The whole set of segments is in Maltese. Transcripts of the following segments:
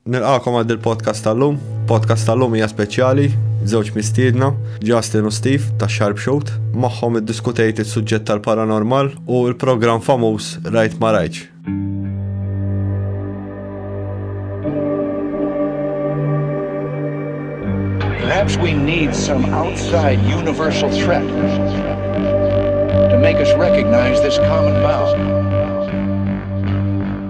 Nilqakom għal dil-podcast tal-lum. Podcast tal-lum hija speċjali, żewġ mistiedna, Justin u Steve ta' Sharpshoot, magħhom iddiskutejt is-suġġett tal-paranormal u l-programm famuż Rajt ma Rajtx. Perhaps we need some outside universal threat to make us recognize this common bound.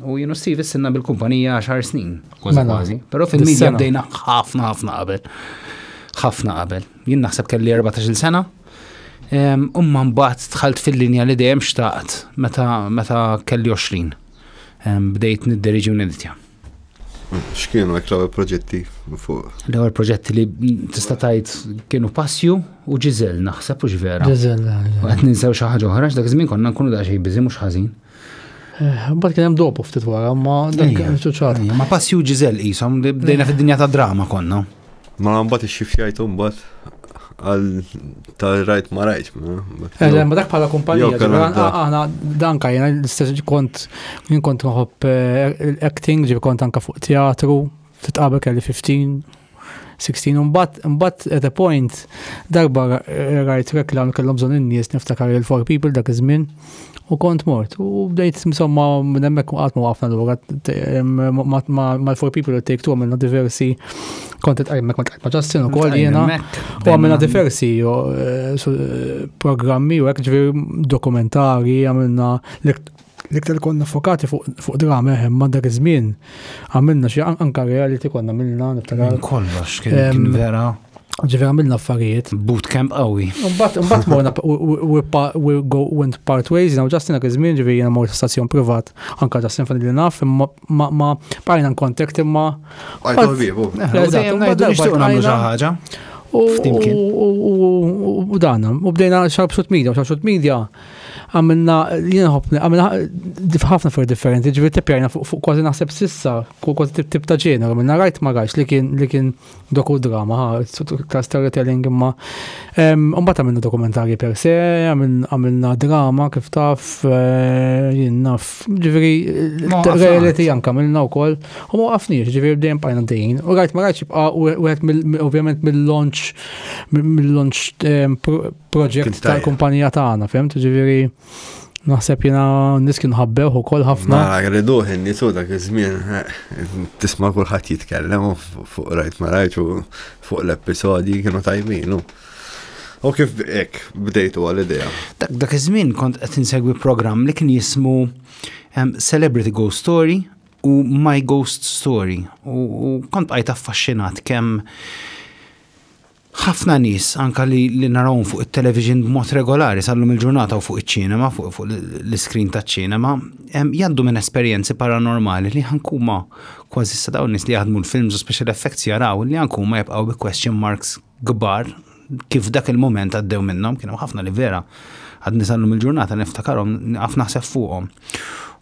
U jien u Steve issinna bil-kumpanija 10 snin, kważi Mela. kważi. Però fil-medja Dis-sena. bdejna ħafna ħafna qabel. Ħafna qabel. Jien naħseb kelli 14 sena. Em, Umma mbagħad dħalt fil-linja li dejjem xtaqt meta meta kelli 20. Em, Bdejt nidderiġi u niditja. X'kienu hekk l-ewwel proġetti fuq? L-ewwel proġetti li tista' tgħid kienu Passju u Ġiżel naħseb u vera. Ġeżel. Qed ninsew xi ħaġa oħra, x'dak iż-żmien konna nkunu daqsxejn biżi mhux ħażin. Eh, Bat kien hemm dopu ftit wara, ma dak kien ċuċat. Ma passju ġizel qishom bdejna fid-dinja ta' drama konna. Ma mbagħad ix-xifjajt mbagħad għal ta' rajt ma rajt. Eh, ma dak bħala kumpanija, għana dan kajna l-istess kont jien kont nħobb eh, acting, ġi kont anka fuq teatru, fit qabel kelli 15, 16 imbagħad imbagħad at a point darba rajt reklam kellhom bżonn in-nies niftakar il for people dak iż-żmien u kont mort u bdejt insomma minn hemmhekk qatt ma waqafna lura mal-for people u take two għamilna diversi kont qed hemmhekk kont qed ma' Justin ukoll jiena u għamilna diversi eh, eh, programmi u hekk ġifier dokumentari għamilna L-iktar konna fokati fuq drama, eħem, ma dak iż-żmien għamilna xi anka reality konna għamilna niftakar. Kollox kien vera. Ġifier għamilna affarijiet. Bootcamp qawwi. Mbagħad mbagħad morna we go went part ways, now Justin dak iż-żmien ġifieri jiena mort stazzjon privat, anka Justin fan li naf, imma ma bqajna nkontakt imma. Għajtu ħbiebu. Dejjem ngħidu nixtieq nagħmlu xi ħaġa. U dana, u bdejna xarb xut media, xarb xut media. għamilna li nħobni, għamilna ħafna fuq differenti, ġivi tipjajna fuq kważi naħseb sissa, kważi tip tip ta' ġena, għamilna rajt ma rajt li kien li kien doku drama, ta' storytelling imma. Umbat għamilna dokumentari per se, għamilna drama kif taf, eh, jien naf, ġiviri, reality janka għamilna u koll, u ma għafniġ, ġiviri bdejn pajna dejn, u rajt ma rajt xibqa u għet ovvjament mill-launch, mill-launch project tal-kumpanija tagħna, fehmt? Ġifieri Naħseb jina nis kienu ħabbewħu kol ħafna. Ma rriduħ nisu dak iż-żmien eh, tisma' kulħadd jitkellem fuq rajt ma rajt fuq l-episodji kienu tajbin. U kif ek bdejtu għal-idea? Dak iż-żmien kont qed insegwi programm li kien jismu Celebrity Ghost Story u My Ghost Story. U kont għajt affaxxinat kemm Ħafna nies, anke li narawhom fuq it-television b'mod regolari sal-lum il-ġurnata u fuq iċ-ċinema, fuq l-iskrin taċ-ċinema, jgħaddu minn esperjenzi paranormali li anke huma kważi issa dawn nies li jaħdmu l-films u special effects jaraw li anke huma jibqgħu bi question marks kbar kif dak il-mument għaddew minnhom, kien hemm ħafna li vera għadni sal-lum il-ġurnata niftakarhom naf naħseb fuqhom.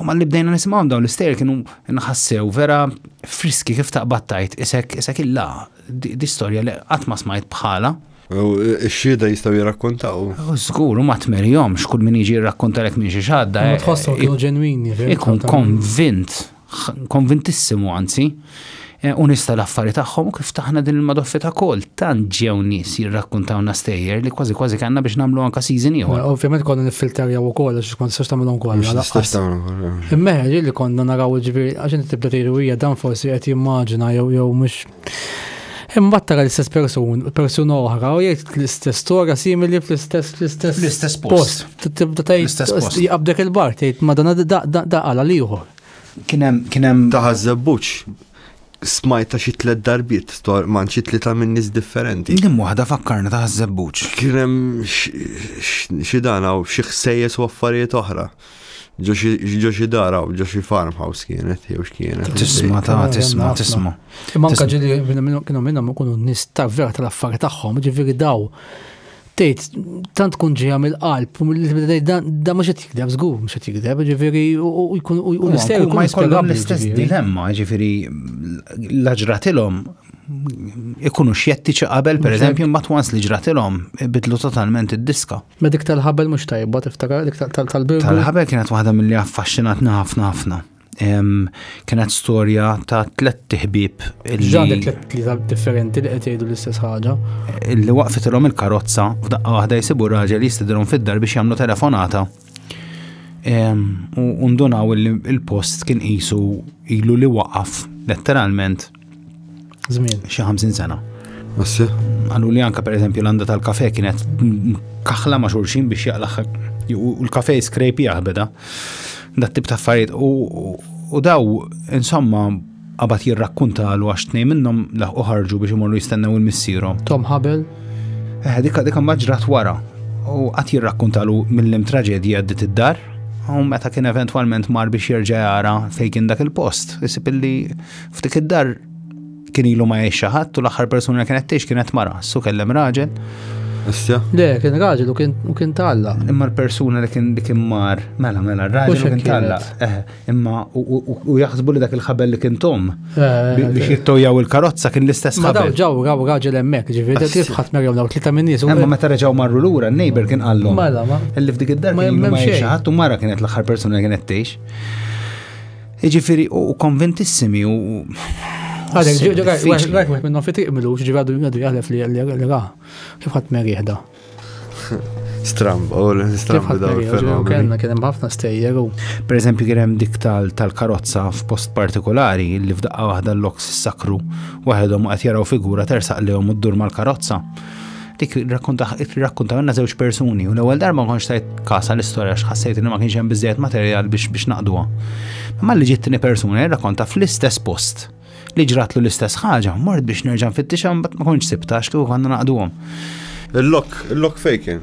U mal-li bdejna nisimgħu dawn l-istejjer kienu nħassew vera friski kif taqbattajt isek isek illa di storja li qatt ma smajt bħala. Ix-xieda jistgħu jirrakkontaw. Żgur, u ma tmerjhomx kull min jiġi jirrakkontalek minn xi xadda. Ma eh, tħossu kienu ġenwini. Ikun konvint konvintissimu anzi, eh, u nista l-affari tagħhom u kif taħna din il-madoffi ta' kol, tant ġew nies jirrakkuntawna stejjer li kważi kważi kanna biex nagħmlu anka season ieħor. Ovvjament konna niffilterjaw ukoll għax kont sirx tagħmilhom kollha. Immeħeġ li konna naraw ġifieri għax inti tibda tgħidu hija dan forsi qed jimmaġina jew jew mhux Imbagħad tara l-istess persun, persuna oħra u jgħid l-istess storja simili fl-istess fl-istess l-istess post. Tibda tgħid jaqbdek il-bar tgħid ma dan da għala liħor. Kien hemm kien hemm taħażebbuċ smajt ta' xi tliet darbiet tor man xi tlieta minn nies differenti. Din waħda fakkarna taħażebbuċ. Kien hemm xi dan hawn xi ħsejjes u affarijiet oħra. Ġo xi dara u ġo xi farmhouse kienet, jew x'kienet. Tisma ta' tisma tisma. Imma anka ġili kienu minnhom ikunu nis ta' vera tal-affar tagħhom, ġifieri daw tgħid tant tkun ġejja mill-qalb u da mhux qed jikdeb żgur mhux qed jikdeb, ġifieri u jkun u l-istejjer ma jkollhom l-istess dilemma, ġifieri l-aġratilhom ikunu xjettiċi qabel, per eżempju, mbagħad wans li ġratilhom bidlu totalment id-diska. Ma dik tal-ħabel mhux tajba tiftakar dik tal-birgu. Tal-ħabel kienet waħda milli affaxxinatna ħafna ħafna. Kienet storja ta' tlet tiħbib. Ġan tlet tliet differenti li qed jgħidu l-istess ħaġa. Li waqfitilhom il-karozza f'daqqa waħda jsibu raġel jistidilhom fid-dar biex jagħmlu telefonata. U ndunaw il-post kien qisu ilu li waqaf letteralment Żmien. Xi 50 sena. Assi. Għallu li anka per eżempju l-għanda tal-kafe kienet kaħla ma' xulxin biex jaqlaħ u l-kafe skrejpi jaħbeda. Dat tip ta' affarijiet u daw insomma qabad jirrakkunta għal għax tnej minnhom laħqu ħarġu biex imorru jistennew il-missierhom. Tom Habel? Eh, dikka dikka maġrat wara u qatt jirrakkunta lu mill-lim traġedji għaddit id-dar u meta kien eventwalment mar biex jerġa' jara fejn kien dak il-post, isib illi F'dik id-dar kien ilu ma jgħix ħadd u l-aħħar persuna li kienet tgħix kienet mara, su kellem raġel. Issa? Le, kien raġel u kien talla. Imma l-persuna li kien kien mar, mela mela, raġel u kien talla. Eh, imma u jaħsbu li dak il-ħabel li kien tom eh, eh, biex jittojaw il-karozza kien l-istess ħabel. Ma ġaw ġaw raġel hemmhekk, ġifieri kif ħadd merjew daw tlita minn nies. Imma meta reġgħu marru lura, n-neighbor kien qallhom. Mela ma. Illi f'dik id-dar kien ma jgħix ħadd u mara kienet l-aħħar persuna li kienet tgħix. Ġifiri, u konventissimi u. Għadek, ġoġo, għadek, għadek, minnu fitiq milu, ġiġi għadu għadu għalef li għalli għa, kif għat meri jihda. Stramb, u l-stramb daw il-fenomenu. Kenna, kienem ħafna stejjer u. Per eżempju, kienem dik tal-karozza f'post partikolari li f'daqqa waħda l-loks sakru, waħedhom għat jaraw figura tersaq li għom u d-dur mal-karozza. dik rakkontamilna żewġ persuni u l-ewwel darba ma kontx tajt kasa l-istorja x'ħassejt li ma kienx hemm biżejjed materjal biex biex naqduha. Imma li ġiet tieni persuna jirrakkonta fl-istess post li ġratlu l-istess ħaġa, mort biex nerġa' nfittixha mbagħad ma kontx sibtax kieku konna naqduhom. Il-lok, il-lok fejken.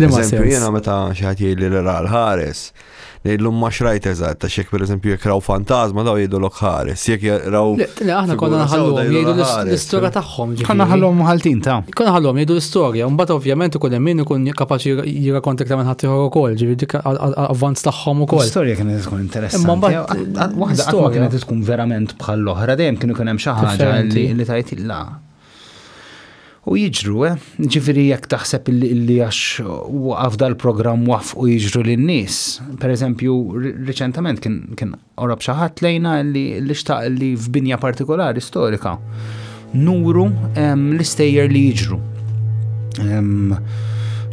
Eżempju, jena meta xaħat jgħidli li ra l-ħares, ngħidlu ma xrajt eżatt, ta' xek per eżempju jek raw fantazma daw jgħidu l-ok ħares, jek raw. Le, aħna konna nħallu jgħidu l-istoria tagħhom. Konna nħallu ħaltin ta'. Konna nħallu jgħidu l-istoria, mbagħad ovvjament ikun hemm min ikun kapaċi jirrakonta iktar minn ħaddieħor ukoll, ġifieri dik avvanz tagħhom ukoll. L-istorja kienet tkun interessanti. Imma mbagħad waħda kienet tkun verament bħall-oħra, dejjem kienu kien hemm xi ħaġa li tajt la. U jiġru, eh? Ġifiri jekk taħseb li għax waqaf dal-programm wafqu jiġru lin-nies. Per eżempju, riċentament kien orob xi ħadd lejna li xtaq li f'binja partikolari storika nuru l-istejjer li jiġru.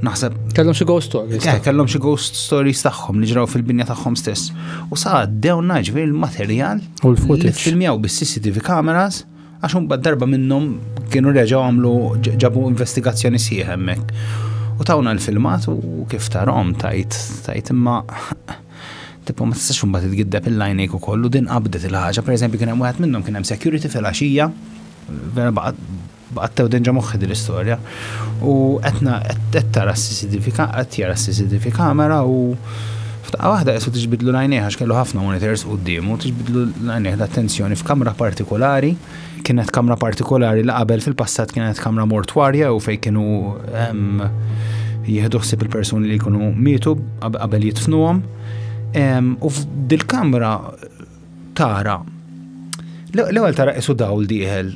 Naħseb. Kellhom xi ghost stories. Eh, kellhom xi ghost stories tagħhom li ġraw fil-binja tagħhom stess. U sa għaddew naġvi l-materjal. U l-footage. Filmjaw bis-CCTV cameras. Għax un darba minnhom kienu reġgħu għamlu ġabu investigazzjoni sieħ hemmhekk. U tawna l-filmat u kif tarom tajt, tajt imma tipo ma tistax imbagħad tgiddeb il-lajnejk ukoll u din qabdet il-ħaġa, pereżempju kien hemm wieħed minnhom kien hemm security fil-għaxija, vera baqgħet tew denġa moħħi din l-istorja. U qed tara s-CCTV qed jara s-CCTV kamera u F'daqqa waħda Jesù tiġbidlu l-għajnejh għax kellu ħafna monitors quddiemu, tiġbidlu l-għajnejh l-attenzjoni f'kamra partikolari, kienet kamra partikolari li qabel fil-passat kienet kamra mortwarja jew fejn kienu jieħdu ħsieb il-persuni li jkunu mietu qabel jitfnuhom. U f'dil-kamra tara l-ewwel tara qisu dawl dieħel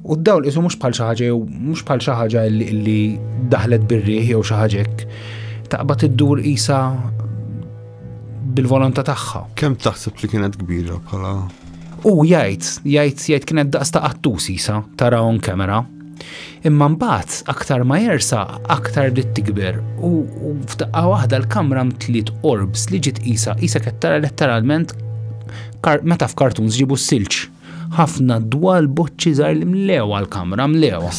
u d-dawl qisu mhux bħal xi ħaġa jew mhux bħal xi ħaġa li daħlet bir-riħ jew xi ħaġa hekk. Taqbad iddur qisha bil-volontà tagħha. Kemm taħseb li kienet kbira bħala? U jgħid, jgħid jgħid kienet daqs ta' qattus isa tara on kamera. Imma mbagħad aktar ma jersa, aktar bdiet tikber u f'daqqa waħda l-kamra mtliet orbs li ġiet qisha qisha qed tara letteralment meta f'kartuns ġibu s-silġ. Ħafna dwal boċċi żgħar li mlewa l-kamra mlewa.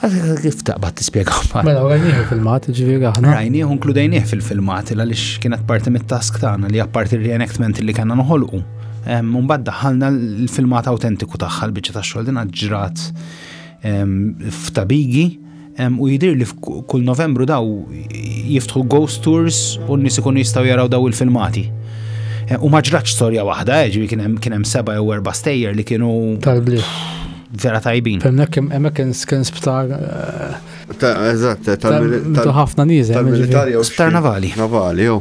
Kif taqbad tispjega ma? Mela, rajnieħu filmat, ġifieri aħna. Rajnieħu nkludejnieh fil-filmat għaliex kienet parti mit-task tagħna li apparti r-reenactment li kellna noħolqu. Mbagħad daħħalna l-filmat awtentiku tagħha l-biċċa tax-xogħol din ġrat f'tabigi u jidir li kull Novembru daw jiftħu ghost tours u n-nies ikunu jistgħu jaraw daw il-filmati. U ma ġratx storja waħda, eh, ġivi kien hemm seba' jew erba' stejjer li kienu tal-bliet. Vera tajbin. Hemmhekk hemmhekk kien sptar eh, Eżatt, tal-ħafna nieżel. Tal-militar jew. Sptar navali. Navali, jew.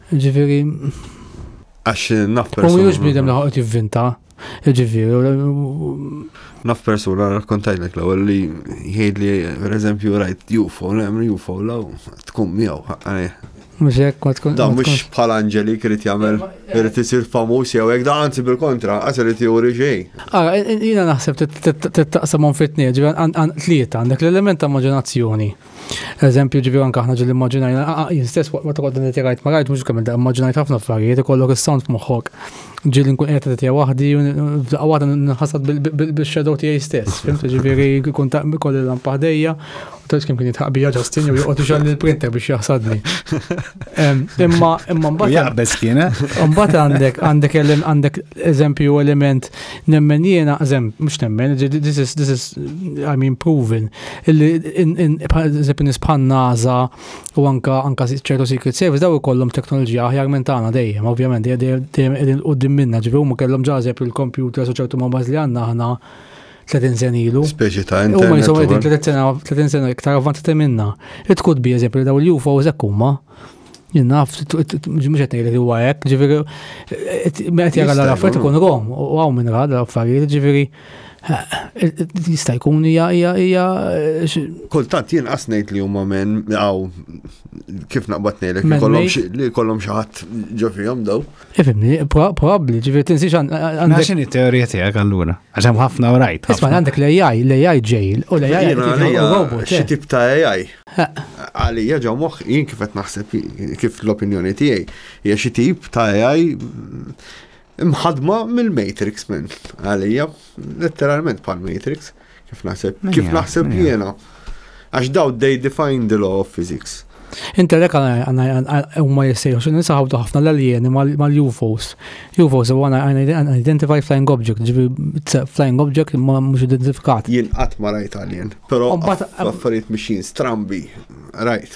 Ġifieri. Għax naf persuna. U mhux bniedem li ħoqgħod jivvinta. Ġifieri. Naf persuna rakkontajlek l-ewwel li jgħid li pereżempju rajt UFO, hemm UFO law tkun miegħu Mux jek, ma tkun. Da, mux bħal Angeli krit jamel, krit jisir famus jew jek, da, anzi bil-kontra, għasir li tijuri ġej. Għara, jina naħseb t-taqsamon fit-tnieġ, tlieta, għandek l-element ta' maġinazzjoni. Eżempju ġivi anka ħna ġil immaġinajna, ah, ah, jien stess waqt ma toqgħod inti rajt ma rajt mhux kemm inti immaġinajt ħafna affarijiet ikollok is-sound f'moħħok. Ġieli nkun qed qed waħdi u f'daqqa waħda nħassad bil-shadow tiegħi stess. Fimt ġifieri jkun ta' kolli lampa ħdejja u tgħidx kemm kien jitħaq bija Ġustin jew joqgħod ixgħal il-printer biex jaħsadni. Imma imma mbagħad. Jaqbeż kien. Eh? Mbagħad għandek għandek għandek eżempju element Nemmen jiena, zem, mux nemmen, this is, this is, I mean, proven, illi zep nisbħan naza u anka anka ċertu Secret Service daw ikollhom teknoloġija aħjar minn tagħna dejjem, ovvjament, dejjem qegħdin qudiem minna, ġifi huma kellhom ġażeb il-kompjuter u ċertu mobaz li għandna aħna 30 sen ilu. Speċi ta' internet. Huma jisaw qegħdin 30 sena iktar avvanzati minna. It could be eżempju daw il-UFO eżekk huma. Naf, mux għetni li huwa għek, ġifiri, għet jgħal għal affarijiet ikun rom, u għaw minn għal għal affarijiet, ġifiri, jista' jkun hija hija hija. Kultant jien qasnejt li huma minn għaw kif naqbad ngħidlek li kollhom xi ħadd ġo fihom daw. Ifimni, probabli, ġifiri tinsiex għandek. Għaxin it-teorija tijak għallura, għaxem ħafna u rajt. Isma għandek l-AI, l-AI ġejl, u l-AI robot. Xie tip ta' AI? Għalija ġo moħ, jien kif qed naħseb, kif l-opinjoni tijaj, hija xie tip ta' AI mħadma mill-Matrix minn għalija, letteralment pal-Matrix. Kif naħseb? Kif naħseb jiena? Għax daw they define the law of physics. Intelek huma jissejħu xi nisaħu ħafna l-aljeni mal-UFOs. UFOs huwa unidentified flying object, ġibi flying object ma mhux identifikat. Jien qatt ma rajt alien, però affarijiet mixin strambi, rajt.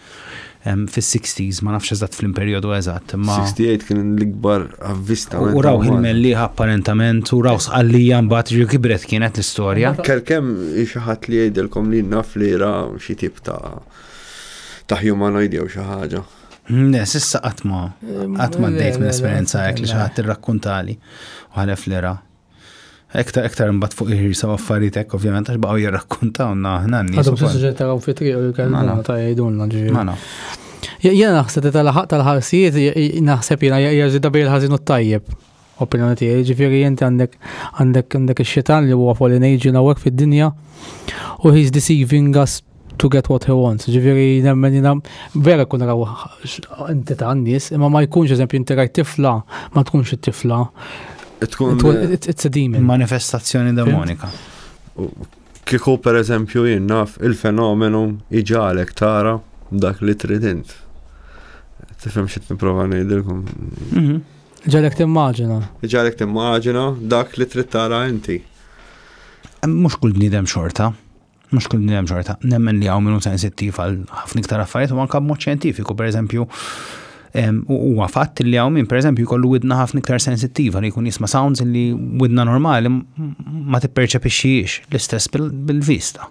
fis-sixties, ma nafx eżatt flim perjodu eżatt, imma. 68 kien l-ikbar avvistament. U rawh il-mellieħa apparentement, u rawh sqallija mbagħad ġi kibret kienet l-istorja. Kelkem xi ħadd li jgħidilkom li naf li ra xi tip ta' ta' humanoid jew xi ħaġa. Ne, sissa qatt ma qatt ma ddejt minn esperjenza hekk li xi ħadd irrakkuntali u ħalef li ra. Ektar, ektar mbatt fuq il-ħirsa u affarijiet hekk ovvjament għax baqgħu jirrakkuntawna aħna n-nies. Għadhom tiġi taraw fi triq u jkellmuna ta' jgħidulna ġifieri. Mana. Jena naħseb li tal-ħaq tal-ħarsijiet naħseb jena jaġida bej il-ħażin u t-tajjeb. Opinjoni tiegħi, ġifieri inti għandek għandek għandek ix-xitan li huwa fallen agent hawnhekk fid-dinja u he's deceiving us to get what he wants. Ġifiri, nemmen jina, vera kun raw inti ta' n-nis, imma ma jkunx eżempju inti rajt tifla, ma tkunx it-tifla. Tkun. It's a demon. Manifestazzjoni demonika. Kiku per eżempju jinnaf il-fenomenu iġalek tara dak li tridint. Tifem xit niprofa nejdilkom. Mhm. Ġalek timmaġina. Ġalek timmaġina dak li trid tara inti. Mux kull bnidem xorta. mhux kull hemm xorta, nemmen li hawn minnu sensittiv għal ħafna iktar affarijiet u anke b'mod xjentifiku, pereżempju, huwa fatt li hawn minn pereżempju jkollu widna ħafna iktar sensittiva li jkun jisma' sounds li widna normali ma tipperċepixxiex l-istess bil-vista.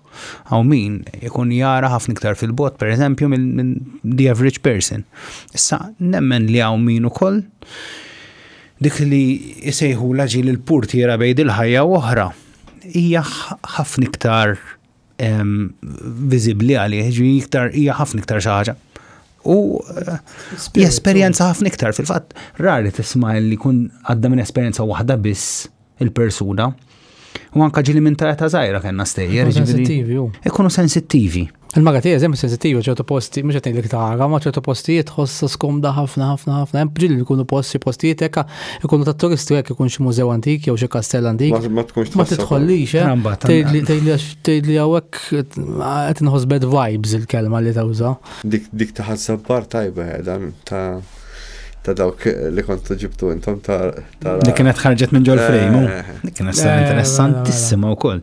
Hawn min ikun jara ħafna iktar fil-bot pereżempju minn the average person. Issa nemmen li hawn min ukoll dik li jsejħu laġi l-purtiera bejn il-ħajja u oħra hija ħafna iktar viżibbli għalih, ġifieri iktar hija ħafna iktar xi ħaġa. U eh, jesperjenza ħafna iktar fil-fatt rari tisma' li kun għadda minn esperjenza waħda biss il-persuna. U anka ġili minn ta' ta' zaħira kena stejjer. Ikunu sensittivi. Ikunu sensittivi. Il-maga tiegħi eżempju sensittiva ċertu posti, mhux qed ngħidlek tara, ma ċertu postijiet ħossa skomda ħafna ħafna ħafna. Hemm ġilli jkunu posti postijiet hekk ikunu ta' turisti hekk ikun xi mużew antik jew xi kastell antik. Ma tkunx ma tidħollix, eh? Tgħidli tgħidli tgħidli hawnhekk qed inħoss bad vibes il-kelma li tawża. Dik dik ta' ħassabbar tajba eh, dan ta' ta' dawk li kontu ġibtu intom ta' Li kienet ħarġet minn ġol frejmu. Eh. Dik kienet eh, interessantissima wkoll.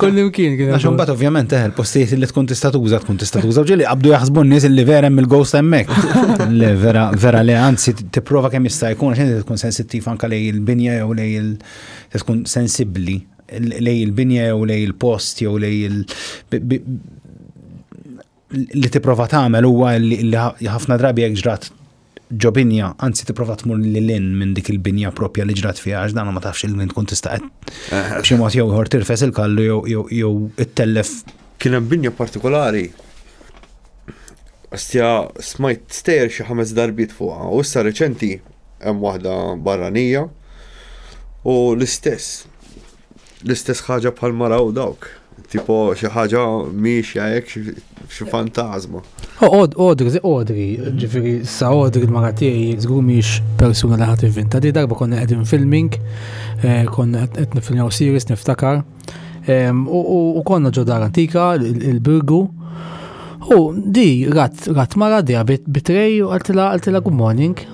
Kullimkien kien. Għax imbagħad ovvjament eħel eh, postijiet li tkun tista' tuża tkun tista' tuża ġieli qabdu jaħsbu n-nies li vera hemm il-ghost hemmhekk. Le vera vera le anzi tipprova kemm jista' jkun għax inti tkun sensittiv anke lej il-binja jew lej il tkun sensibbli lej il-binja jew lej il-post jew lej il li tipprova tagħmel huwa li ħafna drabi jekk ġrat ġo binja, anzi tipprova tmur li lin minn dik il-binja propja li ġrat fiha għax dan ma tafx il-min tkun tista' b'xi mod jew ieħor tirfes il-kallu jew ittellef. Kien hemm binja partikolari Astja smajt stejjer xi ħames darbiet fuqha u issa reċenti hemm waħda barranija u l-istess L-istess ħaġa bħal ma raw dawk. Tipo xi ħaġa miexja hekk xi fantasma. Oqod, odri, odri, ġifieri sa odri l-mara tiegħi żgur mhix persuna li ħadd ivvinta. Di darba konna qegħdin filming, eh, konna qed nifilmaw series niftakar. U konna ġo dar antika, il-birgu. U di rat rat mara di bit bitrej u għaltila għaltila good morning.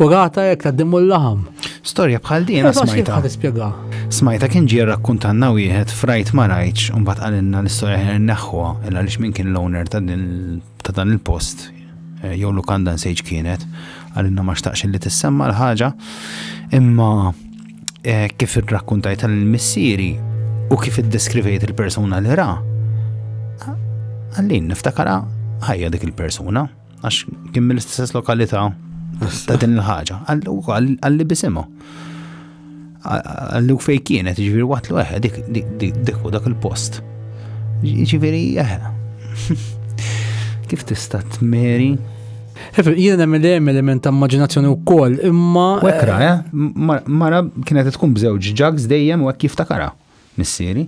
U rata jekk taddimu l-laħam. Storja bħal din eh, smajta. Tispjega. Smajta kien ġie rakkuntanna wieħed frajt ma rajtx u mbagħad qalilna l-istorja ħer neħħuha il għaliex min kien l-owner ta' dan il-post eh, jew lukanda nsejġ kienet għalilna ma xtaqx li tissemma l-ħaġa imma eh, kif irrakkuntajt tal-missieri u kif iddeskrivejt il-persuna li ra għallin niftakara ħajja dik il-persuna. għax kien mill-istess lokalità ta' din il-ħaġa, għalli bisimu. Għallu fej kienet, ġiviri waqt l eħe, dik, dik, dik, dik, dak il-post. Ġiviri eħe. Kif tista' tmeri? Jien hemm li hemm element ta' immaġinazzjoni wkoll, imma. Wekra, eh? Mara kienet tkun bżewġ ġags dejjem u hekk jiftakara. missieri,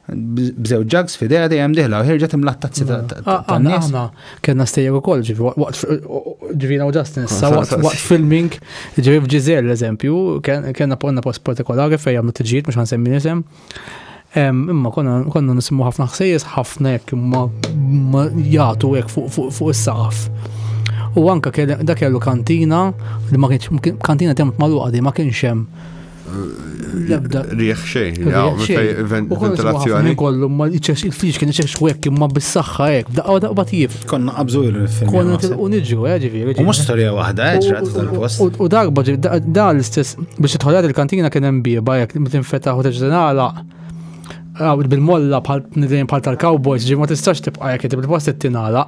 bżew ġags fidea dejjem diħla u ħirġet imlat tazzi ta' nies. Aħna kellna stejjer ukoll ġifi waqt ġivina u ġastin sa waqt filming ġifi f'Ġiżel eżempju, kellna ponna post partikolari fejn għamlu tiġijiet mhux ħansemmi nisem. Imma konna nisimgħu ħafna ħsejjes ħafna jekk ma jagħtu hekk fuq is-saqaf. U anka dak kellu kantina li ma kienx kantina temp maluqa ma kienx hemm Lebda. Riħ xejn, ventilazzjoni. Kollu, ma il-friġ kien iċex xwek imma bis-saxħa ek, daqqa daqqa tjif. Konna qabżu il-film. Konna tilqu niġu, eh, ġifiri. U mux storja wahda, eh, ċrat tal-post. U darba ġib, da l-istess, biex tħolad il-kantina kien hemm bieba jek, mitin fetaħ u teġdenala. Bil-molla bħal tal-cowboys, ġi ma tistax tibqa jek, bil-post t-tinala.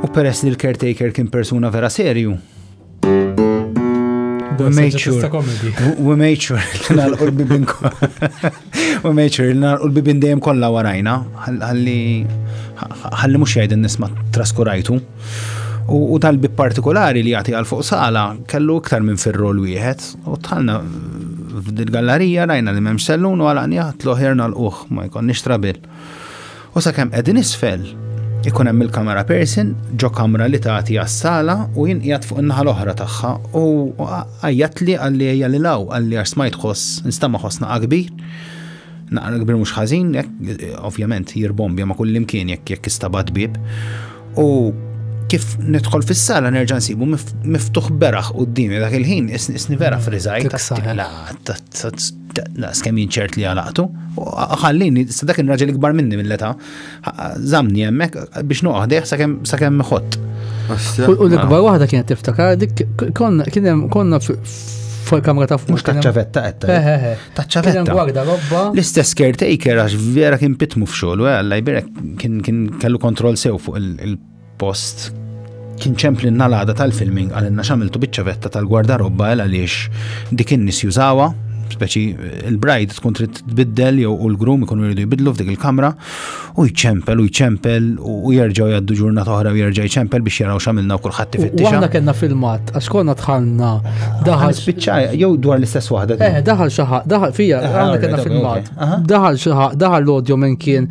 U peress li l-caretaker kien persuna vera serju, We made sure. We made sure. Nalqu l-bibin We made sure. Nalqu l-bibin dejjem kollha warajna. Ħalli ħalli mhux jgħid nisma traskurajtu. U tal-bib partikolari li jagħti għal fuq sala kellu iktar minn fir-rol wieħed u tħallna f'dil gallarija rajna li m'hemmx sellun u għalaqni ħadd l-oħer nal-uħ ma jkollniex trabil. U sakemm qegħdin isfel, ikun hemm il-kamera person ġo kamra li tagħti għas-sala u jien qiegħed fuq in-naħa l-oħra tagħha u għajjatli għalli ejja lil hawn għalli għax smajt ħoss nistama' ħoss naqa' kbir. Naqra kbir mhux ħażin, ovvjament jirbombja ma' kull imkien jekk jekk istabat bib. U kif nidħol fis-sala nerġa' nsibu miftuħ beraħ qudiemi dak il-ħin isni vera friżajt. Daqs kemm jien ċert li għalaqtu, ħallini, sa dak il-raġel ikbar minni mill-età, zamni hemmhekk biex noqgħodih sakemm ħott. U l-ikbar waħda kienet tiftakar dik konna fuq kamra ta' fuq. Mux taċċavetta għetta. Eh, eh, eh. Taċċavetta. Gwarda robba. L-istess caretaker għax vera kien pitmu f'xogħol, għalla jbirek kien kellu kontroll sew fuq il Post kien ċempli n-nalada tal-filming għalinna xamiltu biċċavetta tal-gwardarobba għal għaliex dik in-nies jużawa, speċi il-bride tkun trid tbiddel jew u l-grum ikunu jridu jbidlu f'dik il-kamra u jċempel u jċempel u jerġgħu jgħaddu ġurnata oħra u jerġa' jċempel biex jaraw x'għamilna u kulħadd ifittixa. Aħna kellna filmat għax konna tħanna daħal spiċċa jew dwar l-istess waħda. Eh, daħal xi daħal fija, eh, aħna kellna filmat. Daħal xi daħal l-odjo minn kien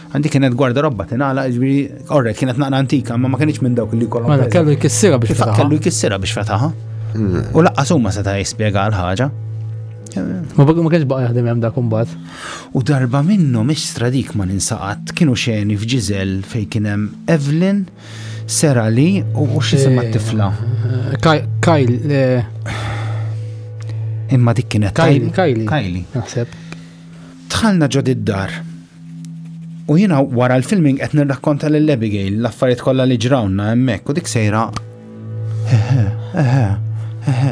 Għandi kienet gwarda robba tinala, ġbiri, orre, kienet naqra antika, ma ma kienx minn dawk li kollu. Ma kellu jkissira biex fetaħa. Kellu jkissira biex fetaħa. Mm. U laqqa summa seta' jispjega l-ħaġa. Ma bagħu ma kienx baqa' jaħdem hemm dak imbagħad. U darba minnu mhix stradik ma ninsaqat kienu xeni f'Ġiżel fejn kien hemm Evelyn, Sera li u xi semma eh, tifla. Eh, Kajl. Eh. Imma dik kienet Kajli. Kajli. Naħseb. Tħalna ġod id-dar U jiena wara l-filming qed nirrakkonta lil Abigail l-affarijiet kollha li ġrawna hemmhekk u dik sejra. Eħe, eħe, eħe.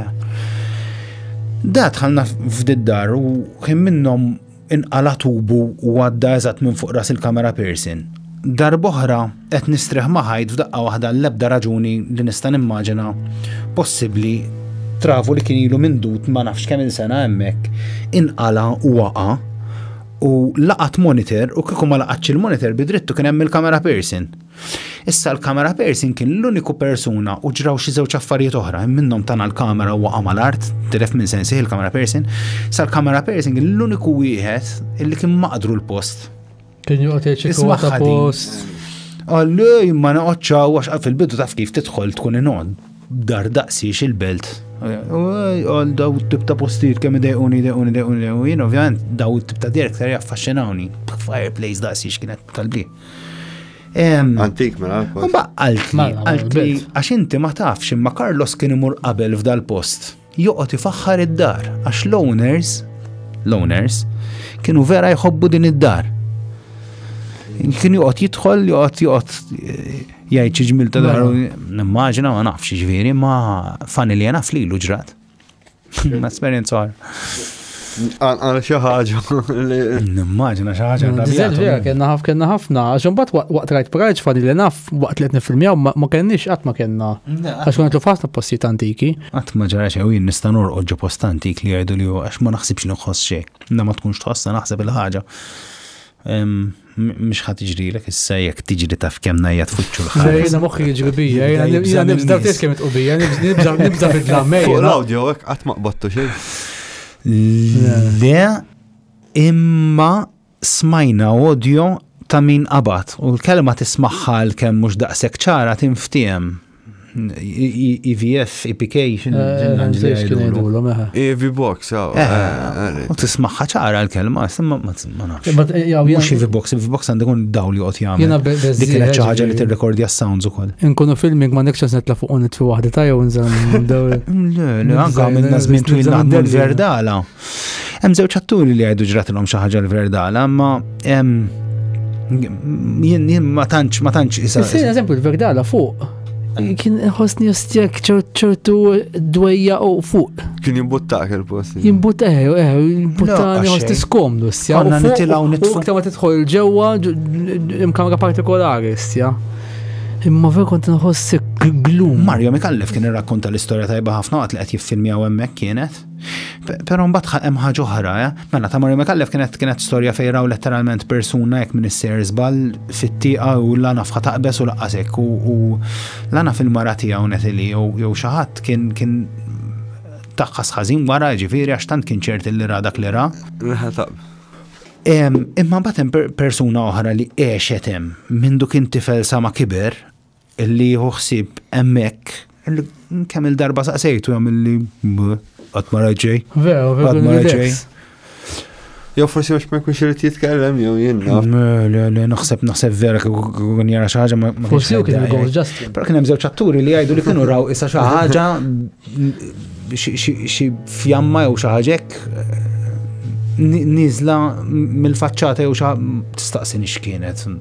Da tħallna f'diddar u kien minnhom inqala tubu u għadda eżatt minn fuq ras il-kamera Pearson. Darboħra qed nistreħ maħajt f'daqqa waħda l-ebda raġuni li nista' nimmaġina possibbli travu li kien ilu mindut ma nafx kemm il-sena hemmhekk inqala u waqa' u laqat monitor u kieku ma laqatx il-monitor bidrittu kien hemm il-kamera person. Issa l-kamera person kien l-uniku persuna u ġraw xi żewġ affarijiet oħra, minnhom tana l-kamera u waqa' mal-art, tilef minn sensi il-kamera person. Issa l-kamera person kien l-uniku wieħed illi kien maqdru l-post. Kien joqgħod jgħid ta' post. Għalli, ma naqgħodx għax fil-bidu taf kif tidħol tkun inod. Dar daqsiex il-belt. Għal daw tip ta' postijiet kemm idejquni, idejquni, idejquni, jien ovvjament daw tip ta' direk ser jaffaxxinawni. Fireplace daqsiex kienet kalbi. Antik, mela. Ma għaltli, għaltli, għax inti ma tafx imma Carlos kien imur qabel f'dal-post. joqgħod ifaħħar id-dar għax l-owners l-owners kienu vera jħobbu din id-dar. Kien joqgħod jidħol, joqgħod joqgħod eh, jgħid xi ġmil ta' dar. Mela. Nimmaġina ma nafx ġifieri ma fanilja naf lilu ġrat. Esperjenza Għal xi ħaġa li. Nimmaġina xi ħaġa mm, Diżel vera kellna ħaf kellna ħafna, għax imbagħad waqt rajt prajġ fadi li naf waqt li qed nifilmjaw ma kenniex qatt ma kellna. Għax kont nitlu ħafna postijiet antiki. Qatt ma ġara xejn jien nista' norqod ġo post antik li jgħidu li għax ma naħsibx li nħoss xejn. Na ma tkunx tħossha naħseb il-ħaġa. Mhux ħa tiġrilek issa jekk tiġri taf kemm najja tfuċċu l-ħar. Jiena moħħi jiġri bija, jiena nibża tgħid kemm itqu bija, nibża nibża bid-dlamej. Fuq l-awdjo hekk qatt ma qbadtu xejn. Le imma smajna audio ta' min qabad u l-kelma tismagħha l-kemm mhux daqshekk ċara tinftiehem. EVS, EPK, EV box, U tismaħħa ċara l-kelma, ma nafx. Mux EV box, EV box għandu kun daw li għot jgħamil. Dik kienet ċaħġa li t-rekordi għas-sounds u koll. Nkunu filming ma nekċas netla fuq unit fi wahda ta' jew nżam. Le, le, għanka għamilna zmin twil naħdmu l-verdala. Hemm żewġ atturi li jgħidu ġratilhom xi ħaġa l-verdala, ma jien ma tantx ma tantx isa. Sir eżempju l-verdala fuq. Kien ħosni ostjak ċertu dwejja u fuq. Kien jimbuttak il-post. Jimbuttak, eh, eh, eh, jimbuttani ħosni skomdu, stja. Għanna nitilaw nitfuq. Kta ma titħol ġewa imkamra partikolari, stja. Imma vera kont nħossi glum. Mario Mikallef kien irrakkonta l-istorja tajba ħafna għat li qed jiffilmjaw hemmhekk kienet. Pero mbagħad hemm ħaġa oħra, eh? mela ta' Mario Mekallef kienet kienet storja fejn raw letteralment persuna jekk minn isser żball fit-tieqa u lana fħa taqbes u laqqasek u lana fil-mara tiegħu netili jew xi ħadd kien kien taħħas ħażin wara ġifieri għax tant kien ċert li ra dak li ra. Imma mbagħad hemm persuna oħra li għexet hemm minn duk intifel sa ma kiber Illi jieħu ħsieb hemmhekk kemm il-darba saqsejtu hemm illi qatt ma raġej. Vera, vera. ma raġej. Jew forsi għax ma jkunx irid jitkellem jew jien. Le, le, naħseb naħseb vera kun jara xi ħaġa ma. Forsi kien il-gold ġast. Però kien hemm żewġ atturi li jgħidu li kienu raw issa xi ħaġa xi fjamma jew xi ħaġek nizla mill-faċċata jew xa tistaqsi nixkienet.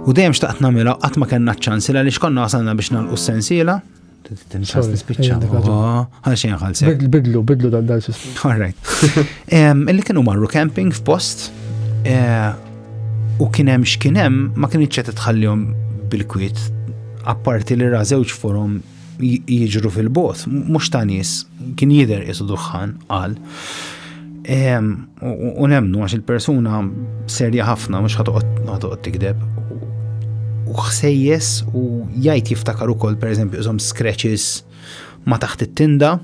U dejjem xtaqt namela, qatt ma kellna ċ-ċans li għaliex konna wasalna biex nagħlqu s-sensiela. Tinxas nispiċċa. Għal xejn ħalsi. Bidlu, bidlu dan dan sistem. All right. Illi kienu marru camping f'post eh, u kien hemm x'kien hemm ma kienx qed tħallihom bil-kwiet apparti li ra żewġ forum jiġru fil-bot, mux ta' nis, kien jider isu duħħan, għal. U nemnu għax il-persuna serja ħafna, mux ħatoqot tikdeb. U xsejjes u jajt jiftakar u koll, per eżempju, jizom scratches ma taħt it-tinda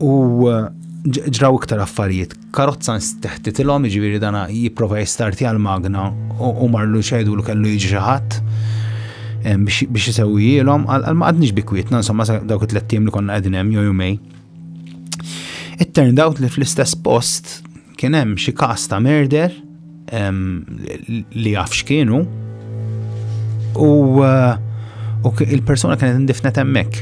u ġraw iktar affarijiet karozza nsteħtitilhom, jiġifieri dana jipprova jistartja l-magna u marlu xedu li kellu jiġi xi ħadd biex isewwijilhom, għal ma għadniex bikwietna, insomma dawk it-tlet li konna qegħdin hemm jew jumej. It turned out li fl-istess post kien hemm xi każ ta' merder li jaf x'kienu u uh, il-persuna kienet indifnet hemmhekk.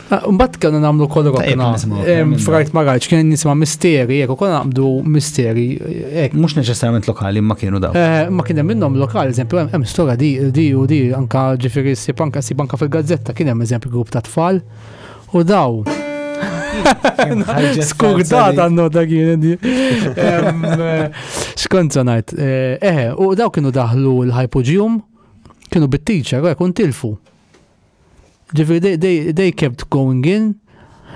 Ah, mbagħad kellna nagħmlu kol rokna. Frajt ma rajtx kien nisma' misteri, jekk ukoll naqbdu misteri. Mhux neċessarjament lokali ma kienu daw. Eh, ma kien hemm minnhom lokali, eżempju hemm stora di di u di anka ġifieri si banka si banka fil-gazzetta kien hemm eżempju grupp ta' tfal u daw. Skugdat għannu ta' kien di. Eh, Skont sanajt. Eh, eh, u daw kienu daħlu l-hypogeum, kienu bit-teacher, kun tilfu. Ġifi, they, they, they kept going in.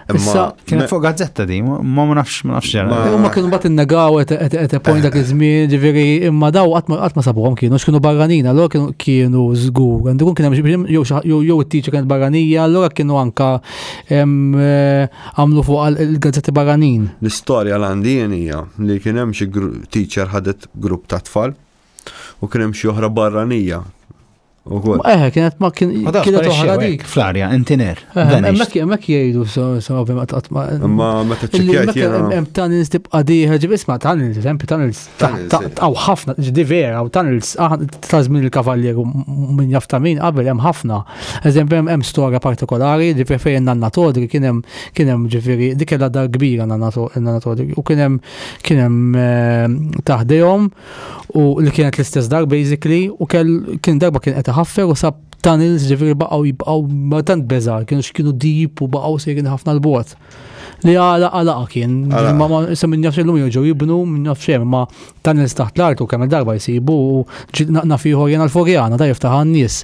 Issa, kienet fuq gazzetta di, ma ma nafx, ma nafx ġara. U ma kienu bat il-negaw, et point dak iż-żmien, ġifiri, imma daw qatt ma sabuhom kienu, x'kienu barranin, allora kienu kienu żgur. Għandu kun kien hemm jew it-tiċi kienet barranija, allora kienu anka eh, għamlu fuq il-gazzetti barranin. L-istorja l-għandi hija li kien hemm xi teacher ħadet grupp ta' tfal u kien hemm xi oħra barranija Ukoll. Ma eħe, kienet ma kien. Ma tafx kienet parixxew oħra hekk dik. fl-arja, intiner. Vanished. Mek mek jgħidu so so ma tqatt ma. Imma meta Illi ċċekkjajt mek- jiena. hemm tunnels tibqa' dieħel, ġib isma' tunnels, eżempju tunnels ta' Tunnels, ta' eh. ta' u ħafna, ġdi vera, u tunnels ah, ta' żmien il-kavaljeru m- min jaf ta' min qabel hemm ħafna. Eżempju hemm hemm storja partikolari, ġifieri fejn nanna Todri kien hemm kien hemm ġifieri dik kellha dar kbira nanna To- nanna Todri u kien hemm kien hemm eh, taħdejhom u li kienet l-istess dar basically u kell kien darba kien qed iħaffer u sab tunnels ġifieri baqgħu jibqgħu ma tant beża kienu x'kienu deep u baqgħu sejrin ħafna l-bot. Li għala għala kien, ma ma se minn jafx illum joġu jibnu minn jafx hemm, ma tunnels taħt l-art u kemm darba jsibu u naqna fiħu jena l-forjana ta' jiftaħ għan-nies.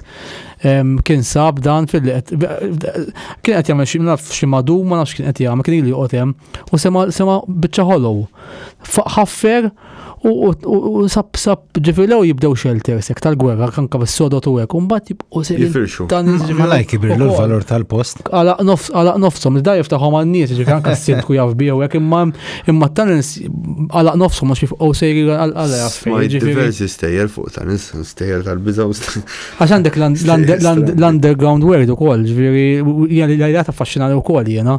Kien sab dan fil kien qed jagħmel xi naf xi madu ma nafx kien qed jagħmel kien li joqgħod hemm. U sema, sema bicċa ħolow. Ħaffer u sab sab ġifilew jibdew xelter sek tal-gwerra kanka bis-sodot u hekk. Umbat jibqu se jifirxu. Malaj kibirlu l-valur tal-post. Għalaq nofs, għalaq nofsom, da jiftaħom għan-nies, ġifieri anke s-sindku jaf biew hekk imma imma talents għalaq nofsom għax jifqgħu sejri għal jaf. Diversi stejjer fuq talents, stejjer tal-biża u Għax għandek l-underground world ukoll, ġifieri jgħalli jgħalli affaxxinali wkoll jiena.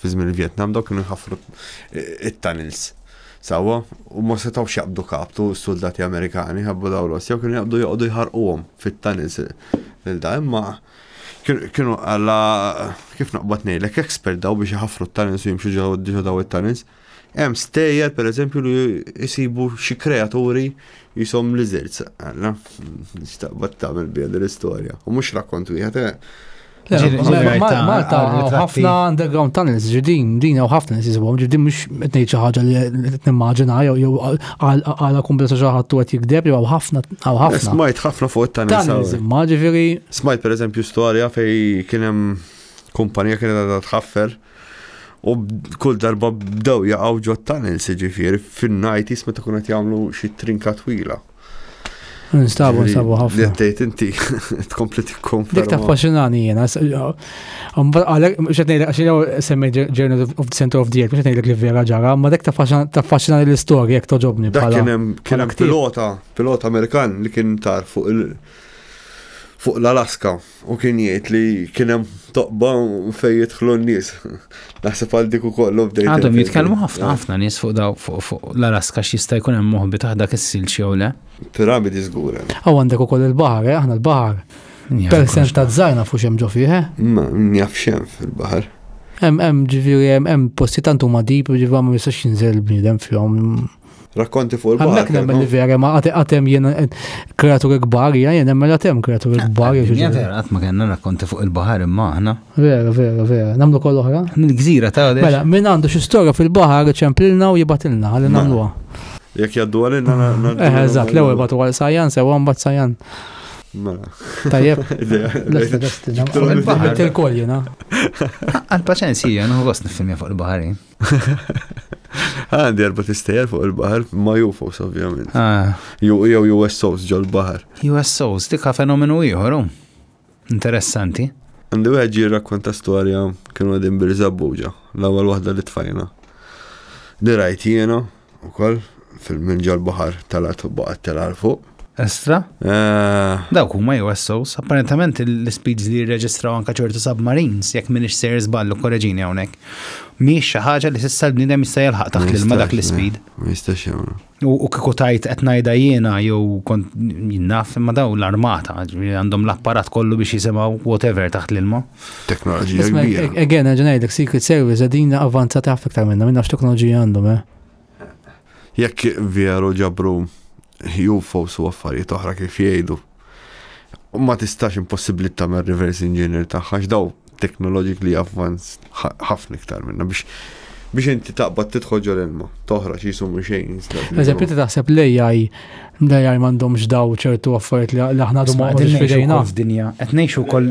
Fi żmien il-Vjetnam dawk kienu jħaffru it-tunnels sewwa u ma setgħux jaqbdu kaptu s-suldati Amerikani ħabbu daw Rossja u kienu jaqbdu joqogħdu jħarquhom fit-tunnels lil da imma kienu għalla kif naqbad ngħidlek expert daw biex iħaffru t-tunnels u jimxu ġew daw it-tunnels. Hemm stejjer pereżempju li jsibu xi kreaturi jisom lizards, għalla, nistaqbad tagħmel bija l-istorja. U mhux rakkont wieħed, eh, Malta ħafna underground tunnels ġidin, din u ħafna nisizbom, ġidin mux etnejt xaħġa li t-nimmaġina, jew għala kumbla sa xaħat tu għet jikdeb, jew ħafna, għaw ħafna. Smajt ħafna fuq tunnels. Maġifiri. Smajt per eżempju storja fej kienem kumpanija kienet għadha tħaffer u kull darba bdew jaqgħu ġo tunnels ġifieri fin-najt jisma ta' kunet jagħmlu xi trinka twila. Nstabu, nstabu ħafna. Li għattejt inti, tkompli tikkonferma. Dik ta' faxinani jena. Għalek, xetnej, għaxin jaw semmi Journal of the Center of the Earth, xetnej li vera ġara, ma dik ta' faxinani l-istoria jek toġobni. Dak kienem pilota, pilota Amerikan li kien tar fuq il- fuq l-Alaska. U kien jgħid li kien hemm toqba fejn jidħlu n-nies. Naħseb għal dik ukoll u bdejt. Għadhom jitkellmu ħafna ħafna nies fuq daw fuq l-Alaska x'jista' jkun hemm moħbi taħt dak is-silġ jew le. Piramidi żgur. Aw għandek ukoll il-baħar, eh, aħna l-baħar. Persent ta' żgħajna fuq xemm ġo fih. Eh? Ma njaf xem fil-baħar. Hemm hemm ġifieri hemm posti tant huma dip ġifieri ma jistax jinżel bniedem fihom. Rakkonti fuq il-bahar. Għandak nemmen li vera ma għatem jien eh, kreaturi kbar, jien nemmen għatem kreaturi eh, kbar. Eh, jien vera għatma kena rakkonti fuq il-bahar imma ħna. Vera, vera, vera. Namlu koll oħra? Minn gżira ta' għadix. Mela, minn għandu xi storja fil-bahar ċemplilna u jibatilna għalli mela. namluha. Jek jaddu għalina. Eh, eżat, l-ewel batu għal sajan, sewa mbat sajan. Mela. Tajjeb. Lesta, lesta. Għal-paċenzija, nħu għos nifilmja fuq il-bahari. Għandi erba tistejer fuq il-bahar, ma UFOs ovvjament. Ah. Jew USOs ġol bahar. USOs, dikka fenomenu ieħor, oh. interessanti. Għandi wieħed ġi rakkonta storja kienu għadin birżabbuġa, l-ewwel waħda li tfajna. Li rajt jiena, Ukoll fil-minn ġol-baħar talat u baqgħet telgħa l fuq. Estra? Eh. Dawk huma USOs, apparentement l-speeds li jirreġistraw anke ċertu submarines, jekk m'iniex sejr żballu korreġini hawnhekk. Mhijiex xi ħaġa li s'issa l-bniedem jista' jilħaq taħt l-ilma dak l-ispeed. Ma jistax jagħmlu. U kieku tajt qed ngħidha jiena jew kont jinnaf imma daw l-armata, għandhom l-apparat kollu biex jisimgħu whatever taħt l-ilma. f'teknoloġija kbira. Again, għagħan għajdek Secret Service għadina avanzata għaf iktar minna, minna x'teknoloġija għandhom, eh? Jekk vjeru ġabru UFO su affarijiet oħra kif jgħidu, ma tistax impossibli tamer reverse engineer tagħha daw technologically advanced ħafna iktar minna biex biex inti taqbad tidħol ġol ilma, toħra xi jisum xejn. Eżempju, ti taħseb li jaj li jaj mandomx daw ċertu affarijiet li aħna dum ma għadin fidejna. F'dinja, qed ngħixu wkoll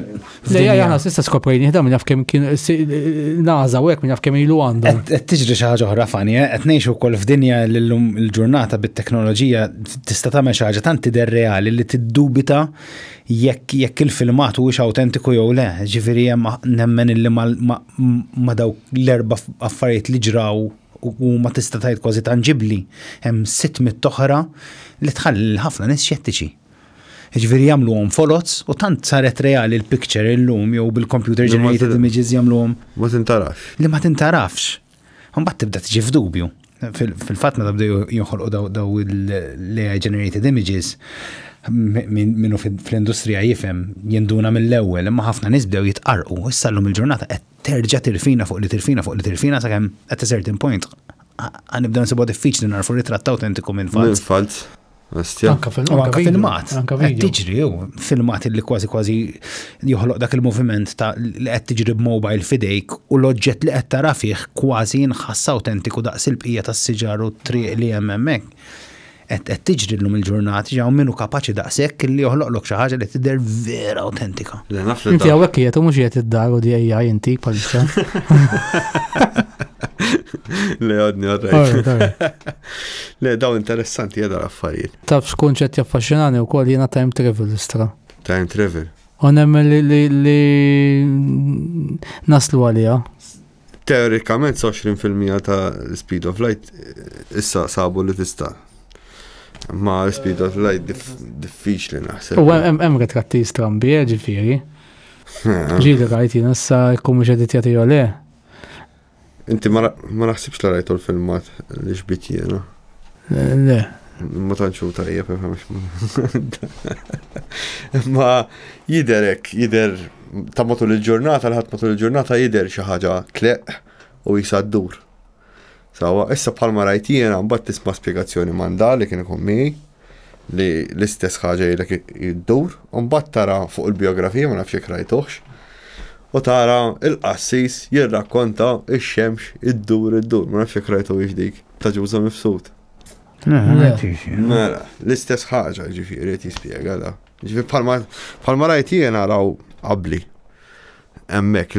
Lejja jana sista skoprejni ħda minn kemm kien naza u hekk minn kemm ilu għandu. Qed tiġri xi ħaġa oħra fani, eh? qed ngħixu wkoll f'dinja l-lum il-ġurnata bit-teknoloġija tista' tagħmel xi ħaġa tant tidher reali li tiddubita jekk jekk il-filmat huwiex awtentiku jew le. Ġifieri hemm nemmen illi ma dawk l-erba' affarijiet li ġraw u ma tista' tgħid kważi tanġibli. Hemm sitt mit-toħra li tħalli ħafna nies xettiċi. Jiġifieri jagħmluhom foloz u tant saret reali l-picture illum jew bil-computer generated images jagħmluhom. Ma tintarafx. Li ma tintarafx. Mbagħad tibda tiġi f'dubju. Fil-fatt meta bdew jinħolqu daw l-AI generated images, minnu fl-industrija jifhem jinduna mill-ewwel, imma ħafna nies bdew jitqarqu. Issa llum il-ġurnata qed terġa' tirfina fuq li tirfina fuq li tirfina sakemm at a certain point nibdew nsibuha diffiċli narfu ritratt awtentiku minn falz. Bestja. Anka film, anka filmat. Anka video. Tiġri, filmat li kważi kważi joħloq dak il-moviment ta' li qed tiġri b'mobile fidejk u l-oġġett li qed tara fih kważi jinħass autentiku daqs il-bqija tas-siġar u t-triq li hemm hemmhekk. Qed tiġri llum il-ġurnati ġew minnu kapaċi daqshekk li joħloqlok xi ħaġa li tidher vera autentika. Inti hawnhekk qiegħed u mhux qiegħed id-dar u di AI inti bħalissa. Le għadni għadni. Le, daw interessanti jada l-affarijiet. Taf xkun ċet jaffaxinani u kol jena time travel istra. Time travel. U nemmen li, li, li naslu għalija. Teorikament 20% ta' speed of light eh, issa sabu li tista' ma speed of light diffiċli naħseb. U hemm retratti strambi, eh, ġifieri. Ġieli rajt jien issa jkun mhux qed jagħti le. Inti ma naħsibx li rajtu l-filmat li xbit jena. Eh, le. Ma tanċu tajjeb, Ma jiderek, jider ta' matul il-ġurnata, l-ħat matul il-ġurnata jider xi ħaġa tleq u jisaddur. Sawa, issa bħalma rajt jiena mbagħad tisma' spjegazzjoni manda li kien ikun miegħi. li l-istess ħaġa jilek iddur, u mbagħad tara fuq il-biografija ma nafx jekk rajtuħx, u tara il-qassis jirrakkonta ix-xemx iddur iddur, ma nafx jekk rajtu dik ta' ġuża mifsud. Mela, l-istess ħaġa ġifieri qed jispjega da. Ġifieri bħalma rajt jiena raw qabli hemmhekk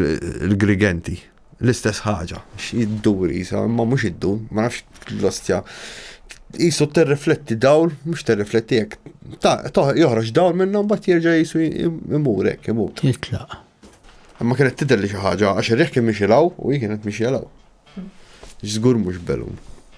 il-grigenti. L-istess ħaġa, x'iddur isa, imma mhux iddur, ma nafx l-ostja. Isu terrifletti dawl, mhux terrifletti hekk. Joħroġ dawl minnha mbagħad jerġa' jisu imur hekk imut. Jitlaq. Imma kienet tidher li xi ħaġa għax ir-reħ kien mixi law u hi kienet mixi law. Żgur mhux belun.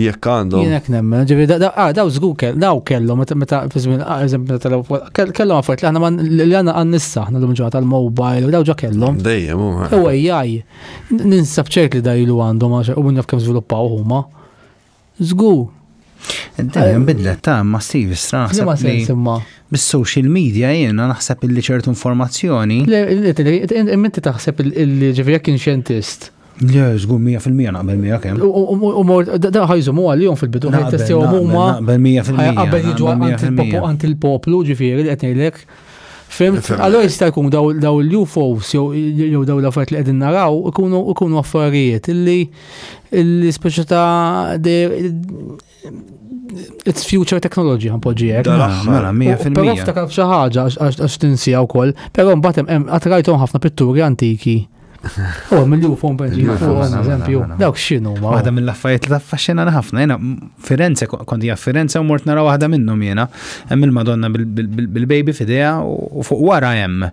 Jekk għandhom. Jien hekk nemmen, ġifi ah, daw żgur kell, daw kellhom meta fi żmien ah, eżempju meta telew kellhom affarijiet li aħna li għandna għan nissa aħna lum ġewwa tal-mobile u daw ġa kellhom. Dejjem u. U AI ninsab ċert li dajlu għandhom għax u minn naf kemm żviluppaw huma. Żgur. Dejjem bidlet ta' massiv strah. Ma sens imma. Bis-social media jiena naħseb illi ċertu informazzjoni. Inti taħseb illi ġifi jekk xjentist Le, żgur 100% naqbel miegħek hemm. U mor da ħajżumu għalihom fil-bidu ħaj testjaw huma. Naqbel 100%. Qabel jiġu għand il-poplu ġifieri li qed ngħidlek. Fimt, allora jista' jkun daw l-UFOs jew daw l-affarijiet li qegħdin naraw ikunu affarijiet illi l-ispeċi ta' It's future technology għan poġijek. Mela, mela, pero ftakar f'xi ħaġa għax tinsija wkoll, però mbagħad hemm qatrajthom ħafna pitturi antiki. Oh, mill-ju fuq benġi fuq, eżempju. Dawk x'inhu ma. Waħda mill-affarijiet li taffaxxinana ħafna. Jena Firenze, kondi hija Firenze u mort nara waħda minnhom jiena. Hemm il-Madonna bil-baby f'idea u fuq wara hemm.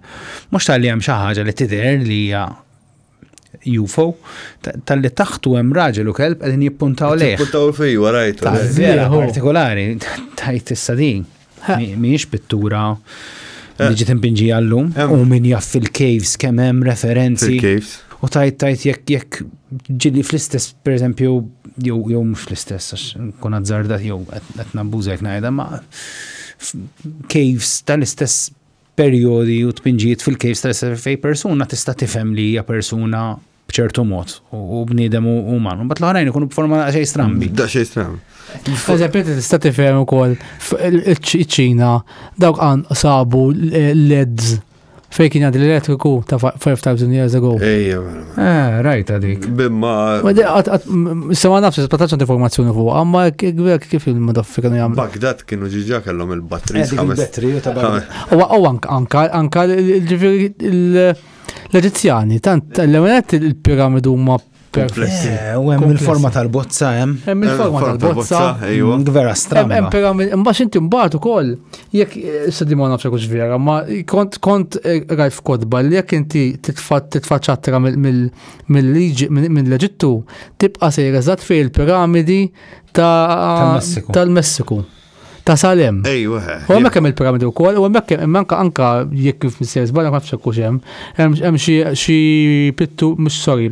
Mhux tal-li hemm xi ħaġa li tidher li hija UFO, tal-li taħtu hemm raġel u kelb qegħdin jippuntaw lejh. Jippuntaw fej warajtu. Vera partikolari, tajt issa din. Mhijiex pittura eh. li ġiet impinġi għallum u min jaff fil-caves kemm hemm referenzi. Fil-caves. U tajt tajt jekk jekk ġili fl-istess, per eżempju, jew jew mhux fl-istess, għax kun azzardat jew qed nabbuża jekk ngħidha, ma caves tal-istess perjodi u tpinġijiet fil-kejl stress test fej persuna tista' tifhem li hija persuna b'ċertu mod u bniedem u uman. Bat l-oħrajn ikunu b'forma da' xej strambi. Da' xej strambi. Eżempju, tista' tifhem ukoll iċ-Ċina dawk għan sabu l-LEDs fej kien għad l-elettriku ta' 5,000 years ago. Ejja, mela. Eh, rajta dik. Bimma. Sema nafx, spataċ għand informazzjoni fuq, għamma għek kif il-madaffi kienu jgħamlu. Bagdad kienu ġiġa kellhom il-batri. Eh, il-batri, u tabba. U anka il-ġifiri l-Eġizjani, tant l-ewenet il-piramidu ma Komplessi. Eh, u hemm il-forma tal-bozza hemm. Hemm il-forma tal-bozza. Vera strana. Hemm piramidi, imbagħad inti mbagħad ukoll Jekk s-sadi ma nafx kux vera, ma kont kont eh, rajt f'kodba li jekk inti titfaċċatra mill-liġi mill-Eġittu tibqa' sejr eżatt fej il-piramidi tal-Messiku. Ta' Salem. Ejwa. U hemmhekk hemm il-piramidi wkoll, u hemmhekk hemm anka anka jekk kif missejs barra ma nafx kux hemm. Hemm xi pittu mhux sorry,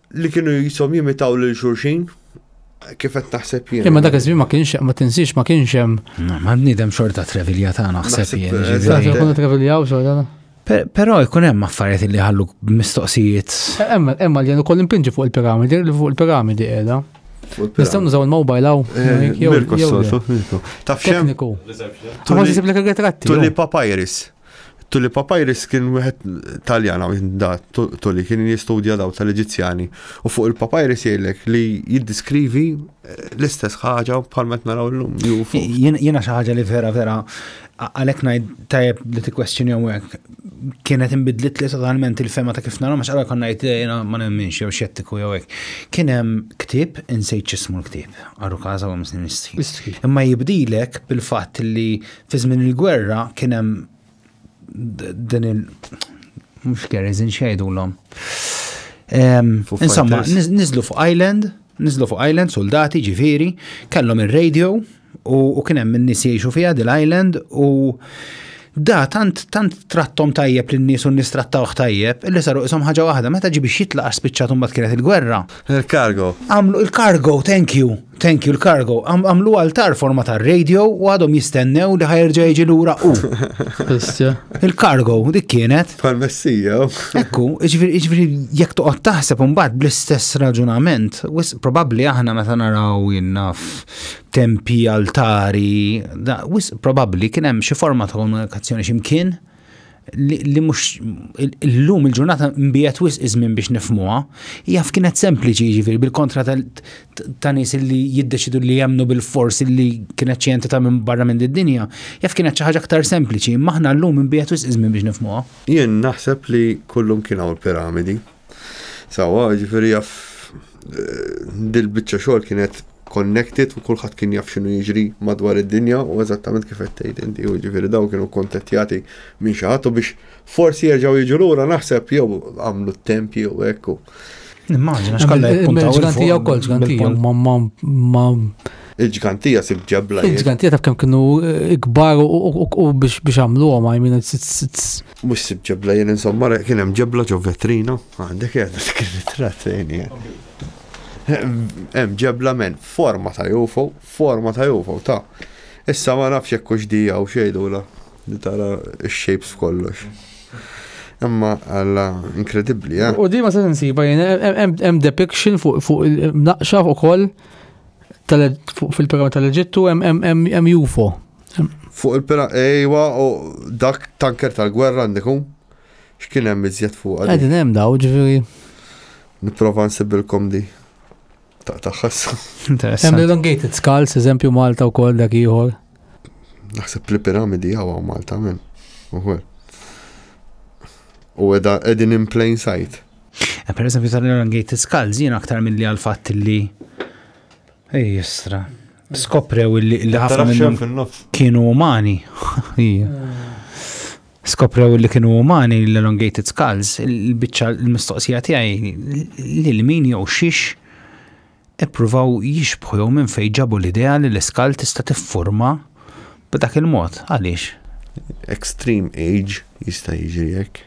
li kienu jisom jimitaw lil xurxin, kif qed naħseb jien. Imma dak iż-żmien ma kienx ma tinsiex ma kienx hemm. Ma nidem xorta trevilja ta' naħseb jien. Ġifieri jkunu treviljaw xorta. Però jkun hemm affarijiet li ħallu mistoqsijiet. Hemm hemm li jien ukoll impinġi fuq il-piramidi, li fuq il-piramidi qiegħda. Nistgħu nużaw il-mobile hawn. Eh, Mirko s-soltu. Taf xemm? Tekniku. Għax isib l-retratti. Tulli papyrus. Tully Papyrus kien wieħed Taljan hawn da Tully kien jistudja daw tal-Eġizzjani u fuq il-papyrus jgħidlek li jiddiskrivi eh, l-istess ħaġa bħal meta naraw llum. Jiena xi ħaġa li vera vera għalhekk ngħid tajjeb li tikkwestjoni hawnhekk kienet inbidlit li totalment il-fema ta' kif nara ma x'għalha konna ngħid eh, jiena ma nemminx jew xettiku jew hekk. Kien hemm ktieb insejt x'ismu l-ktieb, għarru każa u msnistħi. Imma jibdilek bil-fatt li Fi żmien il-gwerra kien hemm din il- mhux kerriżin xejdulhom. Insomma, niżlu fuq island, niżlu fuq island soldati ġifieri, kellhom ir-radio u kien hemm in-nies jgħixu fiha dil-island u da tant tant trattom tajjeb lin nies u nies trattawh tajjeb illi saru qishom ħaġa waħda meta ġi biex jitlaq għax spiċċat imbagħad kienet il-gwerra. Il-cargo. Għamlu il-cargo, thank you. Thank you l-kargo. Għamlu għaltar forma ta' radio u għadhom jistennew li ħajerġa jiġi lura u. Il-kargo, dik kienet. Pal-messija. Ekku, iġviri jek toqgħod taħseb imbagħad bl-istess raġunament, wis probabbli aħna meta naraw jinnaf tempi, altari, wis probabbli kien hemm xi forma ta' komunikazzjoni x'imkien. li mhux illum il-ġurnata mbijet wisq iż-żmien biex nifmuha, hija kienet sempliċi jiġifieri bil-kontra ta' nies li jiddeċidu li jemmnu bil-fors li kienet xi entità minn barra minn id-dinja, jaf kienet xi ħaġa aktar sempliċi, imma aħna llum mbijet wisq iż-żmien biex nifmuha. Jien naħseb li kullum kien hawn il-piramidi. Sawa, ġifiri jaf dil-bicċa xogħol kienet connected u kulħadd kien jaf x'inhu jiġri madwar id-dinja u eżattament kif qed tgħid inti u ġifieri daw kienu kontettjati minn xi ħadd u biex forsi jerġgħu jiġu lura naħseb jew għamlu t-temp jew hekk. Nimmaġina x'kollha jpuntaw. Il-ġgantija wkoll ġgantija ma Il-ġgantija sib ġebla. Il-ġgantija taf kemm kienu eh, kbar u biex għamluhom, I mean, Mhux sibt ġebla jien insomma re kien hemm ġebla ġo vetrina. Għandek qiegħda dik ir-ritratt fejn hija. Hemm ġebla men forma ta' UFO, forma ta' UFO ta' Issa ma nafx jekk hux dija u xejdula li tara x-shapes f'kollox. Imma alla inkredibbli, eh? U dima se nsiba jien hemm depiction fuq naqxa ukoll fil-programm tal-Eġittu hemm UFO. Fuq il-pina, ejwa, u dak tanker tal-gwerra għandiku, x'kien hemm iżjed fuq għadin. Għadin hemm daw, ġviri. Niprofa nsibilkom di. Ta' taħħas. Interessanti. Hemm l-elongated skulls, eżempju Malta u kol dak ieħor. Naħseb li piramidi għawa Malta minn. Uħwer. U edha edin in plain sight. Eh, per eżempju tal-elongated skulls, jien aktar mill-li għal-fat li Ej, jistra. Skoprew illi ħafna minnhom kienu umani. Skoprew illi kienu umani l-elongated skulls, il-biċċa l-mistoqsija tiegħi lil min jew xiex ippruvaw jixbħu jew minn fejn ġabu l-idea li l-iskal tista' tiffurma b'dak il-mod. Għaliex? Extreme age jista' jiġri hekk.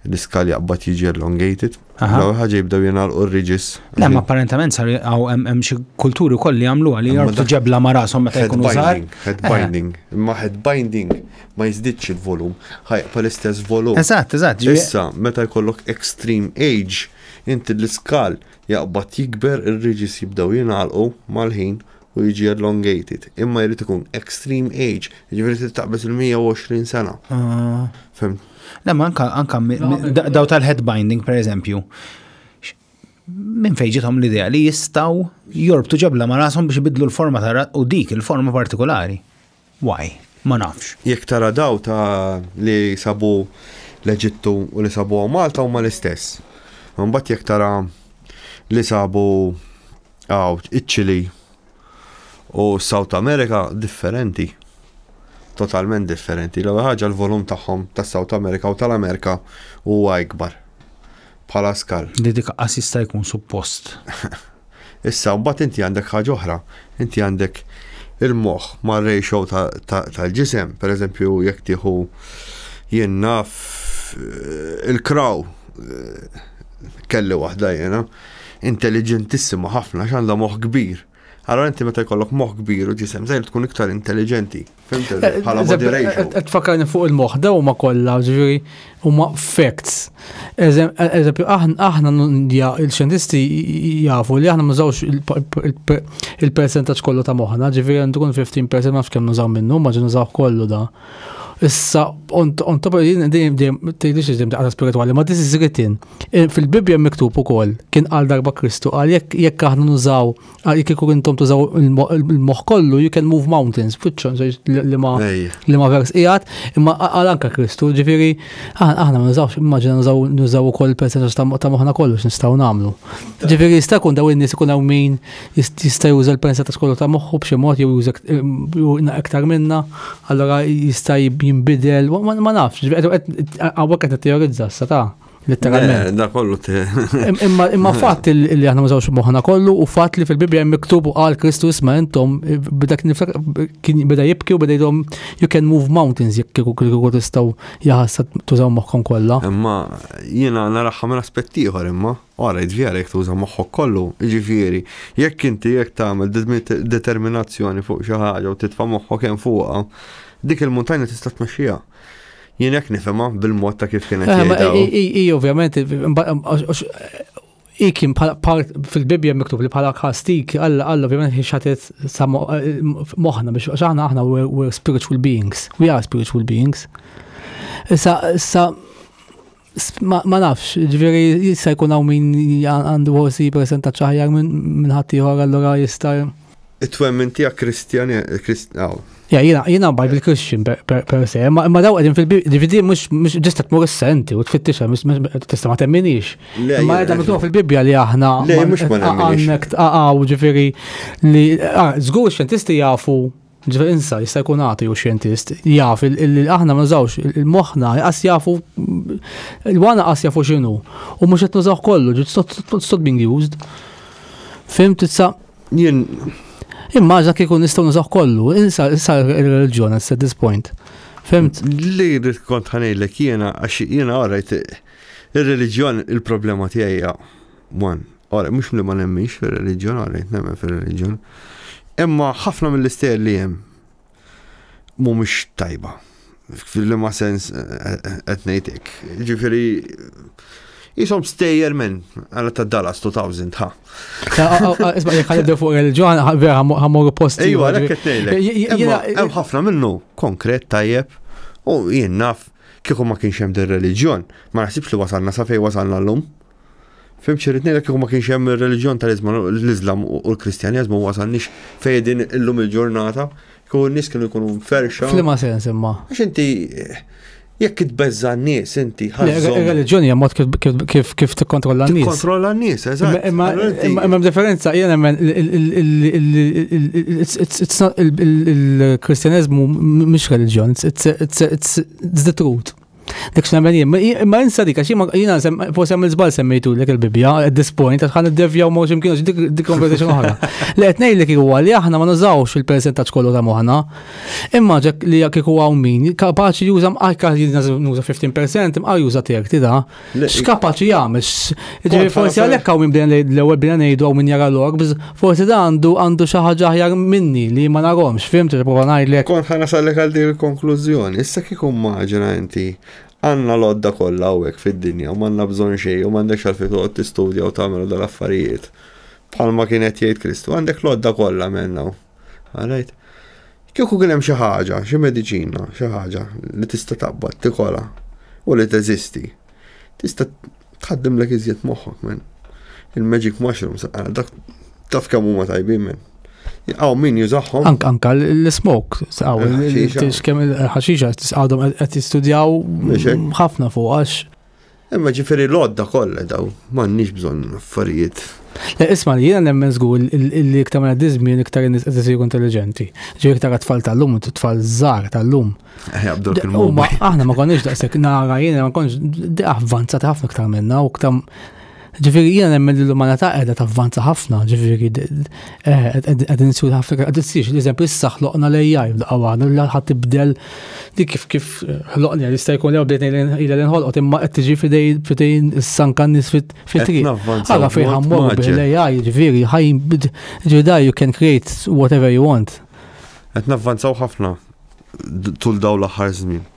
l-iskal jaqbad jiġi elongated. L-ewwel ħaġa jibdew jingħalqu r-riġis. Le, ma apparentement sar hawn hemm xi kulturi wkoll li jagħmlu għal jgħarfu ġebla ma' rashom meta jkunu żgħar. Head eh. binding, imma head binding ma jiżdidx il-volum, ħajqa l-istess volum. Eżatt, eżatt. Issa, meta jkollok extreme age, inti l-iskal jaqbad jikber, ir-riġis jibdew jingħalqu mal-ħin u jiġi elongated, imma jrid ikun extreme age, jiġifieri trid taqbeż il-120 sena. Ah. Fem. Le, ma anka, anka daw tal-head binding, per eżempju, minn fejġitom l-idea li jistaw jorbtu ġabla ma rasom biex ibidlu l-forma ta' u dik il-forma partikolari. Why? Ma nafx. Jekk tara daw ta li sabu l-Eġittu u li sabu hawn Malta huma l-istess. Imbagħad jekk tara li sabu hawn iċ-Ċili u s-South America differenti. Totalment differenti. L-ewwel ħaġa l-volum tagħhom tas-South America u tal-America huwa ikbar. bħala skal. Li dik qas jista' jkun suppost. Issa mbagħad inti għandek ħaġa oħra, inti għandek il-moħħ mar-ratio tal-ġisem, pereżempju jekk tieħu jien naf eh, il-kraw eh, kelli waħda jena intelligentissima ħafna x'għandha moħħ kbir Allora inti meta jkollok moħ kbir u ġisem żgħir tkun iktar intelligenti. Fimt eh, eh, bħala body ratio. Qed fakarni fuq il-moħ daw ma kollha ġifieri huma facts. Eżempju aħna il-xjentisti jafu li aħna mużawx il-percentaġġ kollu ta' moħħna, ġifieri għandu kun 15% ma nafx kemm nużaw minnu, ma ġi nużaw kollu da. Issa, on top of jien dejjem dejjem tgħidix li dejjem daqqa spiritwali, ma this is written. Eh, Fil-Bibbja miktub ukoll kien qal darba Kristu qal jekk jekk aħna nużaw jekk kieku intom tużaw il-moħħ kollu you can move mountains, fiċċon li ma Ejja. li ma vers qiegħed, imma qal anka Kristu, ġifieri aħna aħna ma nużawx immaġina nużaw nużaw ukoll il-percentaġġ ta' ta' moħħna kollu x'nistgħu nagħmlu. Ġifieri jista' jkun daw in-nies ikun hawn min jista' juża l-pensa ta' skollu ta' moħħu b'xi mod jew juża iktar minna, allora jista' jinbidel, ma nafx, għawek qed teorizza sa ta' letteralment. Da kollu Imma fatt li aħna mużawx moħħna kollu u fatt li fil-Bibbja hemm miktub u qal Kristu isma' intom b'dak kien beda jibki u beda jidhom you can move mountains jekk kieku kieku tistgħu jaħassa tużaw moħħkom kollha. Imma jiena naraħħa minn aspett ieħor imma. Ara jiġifieri jekk tuża moħħok kollu, jiġifieri jekk inti jekk tagħmel determinazzjoni fuq xi ħaġa u titfa' moħħok hemm fuqha, dik il-muntanja tista' tmexxiha. Jien hekk nifhimha bil-mod ta' kif kien qed jgħidha. Hi ovvjament hi kien fil-Bibbja miktub li bħala kastik Alla Alla ovvjament hi xatet moħħna biex aħna aħna we're spiritual beings, we are spiritual beings. Issa issa Ma nafx, ġveri jista' jkun hawn min għandu ħossi presenta ċaħjar minn ħadd ieħor allura jista' It-twemmin tiegħek Kristjan Kristjaw. Ja, jina, jina baj bil-Christian per se, ma daw għedin fil-DVD mux ġista tmur s-senti u tfittixha, tista ma temminix. Ma għedin mitluħ fil-Bibja li aħna. Le, mux ma temminix. Għaw ġifiri li, zgur xentisti jafu Ġifieri insa jista' jkun għati u xjentist jaf li aħna ma nużawx il-moħħna qas jafu il-wana qas jafu x'inhu u mhux qed nużaw kollu ġiet stop being used. Fim titsa jien immaġna kieku nistgħu nużaw kollu, insa issa il-reliġjon at this point. Fimt? Li rrid kont ħanejlek jiena għax jiena għarajt ir-reliġjon il-problema tiegħi one Ora, mhux li ma nemminx fir-reliġjon, ora, nemmen fir-reliġjon. Imma ħafna mill-istejjer li hemm mhumiex tajba. Fil-ma sens eh, eh, qed ngħidlek. Ġifieri jisom stejjer minn għala ta' Dallas 2000 ha. Isma' jekk ħalibdew fuq il-ġoħan vera ħammur posti. Ejwa, għalhekk qed ngħidlek. Hemm ħafna minnu konkret tajjeb u jien naf kieku ma kienx hemm dir-reliġjon, ma naħsibx li wasalna sa fejn wasalna llum. Fim xirrit nejlek kieku ma kienx hemm ir-reliġjon tal-Islam u l-Kristjaneżmu wasalniex fejdin illum il-ġurnata, kieku n-nies kienu jkunu ferxa. Flima sens imma. Għax inti jekk itbeżza n-nies inti ħażhom. Ir-reliġjoni hija mod kif kif tikkontrolla n-nies. Tikkontrolla n-nies, eżatt. Imma hemm differenza jiena hemm il-Kristjaneżmu mhux reliġjon, it's the truth. Dik x'nemmen jien, imma insa dik għax jiena forsi għamil żball semmejtu lek il-Bibbja at this point għax ħan iddevjaw ma x'imkien għax dik conversation oħra. Li qed ngħidlek huwa li aħna ma nużawx il-persentaġġ kollu ta' moħħna. Imma ġek li kieku hawn min kapaċi juża mqajka nuża 15% imqa juża tiegħek tida X'kapaċi jagħmel? Ġifieri forsi għalhekk hawn min bdejna l-ewwel bdejna ngħidu hawn min jara l-orbs, forsi da għandu għandu xi ħaġa aħjar minni li ma narhomx, fimt li prova ngħidlek. Kont ħana sallek għal din il-konklużjoni, issa kieku maġina inti għanna l-odda kollha hawnhekk fid-dinja u m'għandna bżonn xejn u m'għandekx għal fejn toqgħod tistudja u tagħmel dal-affarijiet. Palma kienet jgħid Kristu, għandek l-odda kollha menna. Għalajt, kieku kien hemm xi ħaġa, xi mediċina, xi ħaġa li tista' taqbad tikola u li teżisti, tista' tħaddim lek iżjed moħħok men. Il-magic mushroom saqqa dak taf kemm huma tajbin men. Għaw min jużaħħom. Anka anka l-smok, għaw, kemm il-ħaxixa, għadhom qed jistudjaw ħafna fuq għax. Imma ġifiri l-odda kollha daw, m'għandniex bżonn affarijiet. Le, isma' li jiena nemmen żgur li iktar ma diżmin iktar in-nies qed isiru intelliġenti. Ġifieri iktar tfal tal-lum, tfal żgħar tal-lum. Eh, aħna ma konniex daqshekk nara jiena ma konniex avvanzat ħafna iktar minna u iktar Ġifieri jiena nemmen li l-umanità qiegħda tavvanza ħafna, ġifieri eh, qegħdin nsiru ħafna qed issir l-eżempju issa ħloqna l-AI f'daqqa waħda li ħadd tibdel li kif kif ħloqni għal jista' jkun jew bdejt ilha li nħolqot imma qed tiġi fidejn is-sanka nies fit-triq. Ara fejn ħammor bil-AI ġifieri ħajn ġieda you can create whatever you want. Qed navvanzaw ħafna tul daw l-aħħar żmien.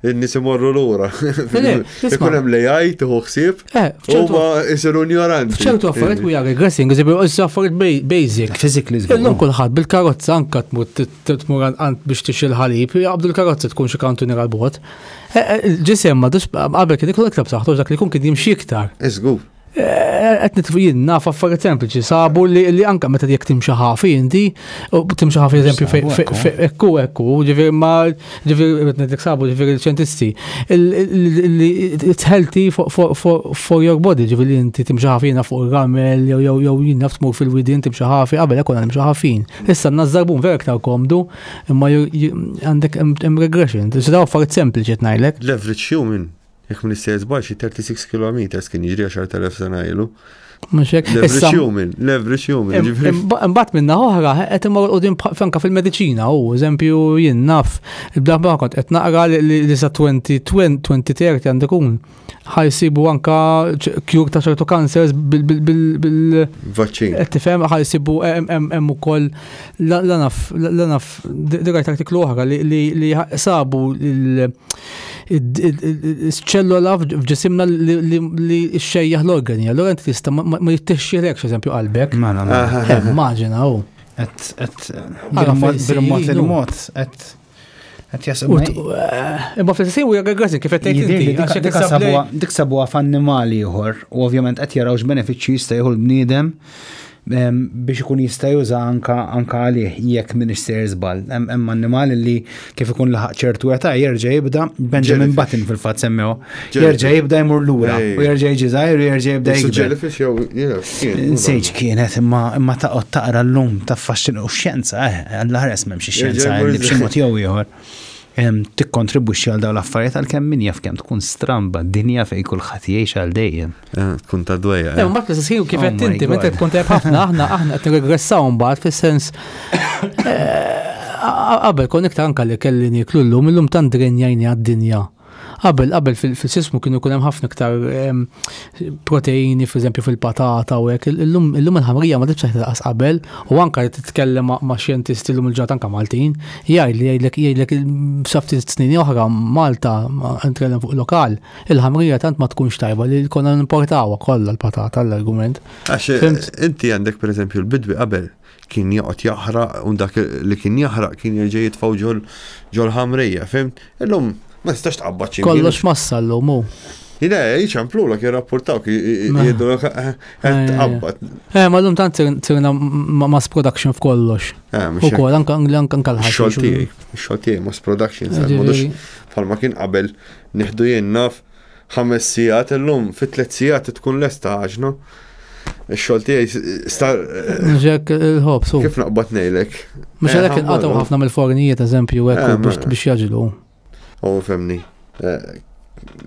n-nis imorru l-ura. Ikun hemm li jgħid, tuħu ħsieb, eh, u ma jisiru ignoranti. ċertu affarijiet u jgħagħi aggressing, jisibu jgħissu affarijiet basic. Fizikli zgur. Illum kulħadd bil-karozza anka tmur tmur għand biex tix il-ħalib, jgħabdu l-karozza tkun xi kantunir għal-bot. Eh, eh, ġisem ma dux qabel kien ikun iktar b'saħħtu dak li kun kien jimxi iktar. Iżgur. qed nitfu jien naf affarijiet sempliċi sabu li li anke meta jekk timxi ħafi inti timxi ħafi eżempju ekku ekku ġifier ma ġifier qed ngħidlek sabu ġifier il-ċentisti li it's healthy for your body ġifier li inti timxi ħafi jiena fuq il-ramel jew jew jew jien naf tmur fil-widien timxi ħafi qabel hekk nimxi ħafin. Issa nażżarbun vera iktar komdu imma għandek hemm regression. Ġifier affarijiet sempliċi qed ngħidlek. L-average human Jekk m'iniex sejjer żball xi 36 kilometers kien jiġri 10,000 sena ilu. Mhux hekk. L-average human, l-average human. Imbagħad minna oħra qed imur qudiem franka fil-mediċina u eżempju jien naf il-blaħba kont qed naqra li sa 2030 għandu jkun ħajsibu anka kjur ta' ċertu kansers bil vaċċin Qed tifhem ħajsibu hemm ukoll l-naf l-naf dirajt artiklu oħra li sabu l- ċellola f'ġisimna li xejjaħ l-organi. Allora inti tista' ma jittixxilekx eżempju qalbek. Mela, mela. Eh, immaġina u. Et, et, bil-mod il-mod, et. Eh, imma fil-sisi u jgħagħazin kif għet Dik sabuwa f'annimali jħor, u ovvjament għet jarawx benefiċi jista jħu l-bnidem biex ikun jista' juża anka anka għalih jekk minix sejr żball. Hemm annimal li kif ikun laħaq ċertu età jerġa' jibda Benjamin Button fil-fatt semmew. Jerġa' jibda jmur lura u jerġa' jiġi żgħir u jerġa' jibda jibda. Jellyfish jew Nsejġ kienet imma imma taqgħod taqra llum taffaxxin u xjenza eh Alla ħares m'hemmx ix-xjenza li b'xi mod jew ieħor tikkontribwixxi għal dawn l-affarijiet għalkemm min jaf kemm tkun stramba d-dinja fejn kulħadd jgħix għal dejjem. Eh, tkun ta' dwejja. Eh, eh. mbagħad l-istess ħin kif oh qed inti meta tkun tajb ħafna aħna aħna qed nirregressaw mbagħad fis-sens qabel kon iktar anka li kelli niklu llum illum tant drenjajni għad-dinja. Qabel qabel fil-sismu kienu kunem hemm ħafna iktar proteini, per eżempju fil-patata u hekk. Illum il-ħamrija ma tibx taħt qabel u anka titkellem ma' xjentisti illum il-ġat anka Maltin, jgħid li jgħidlek jgħidlek safti snin oħra Malta nitkellem fuq lokal Il-ħamrija tant ma tkunx tajba li konna nimportawha kollha l-patata l-argument. Għax inti għandek pereżempju l-bidwi qabel kien joqgħod jaħraq u dak li kien jaħraq kien jerġa' jitfgħu ġol ġol ħamrija, fim? Illum ma tistax tqabbad xi. Kollox massa llum hu. Jina, jċamplu l jirrapportaw ki jiddu l tqabbad. Eh, ma l-lum tant tirna mass production f'kollox. U kol, anka l-ħaxix. Xoltijaj, xoltijaj, mass production, sa' modux, palma kien qabel Nieħdu jien naf ħames sigħat illum fi tliet sigħat tkun lesta għaġna. Ix-xogħol tiegħi star. Ġek il-ħobs. Kif naqbad ngħidlek? Mhux eh, għalhekk inqatgħu ħafna mill-fornijiet eżempju hekk eh, biex biex jaġlu. U oh, femni. Eh,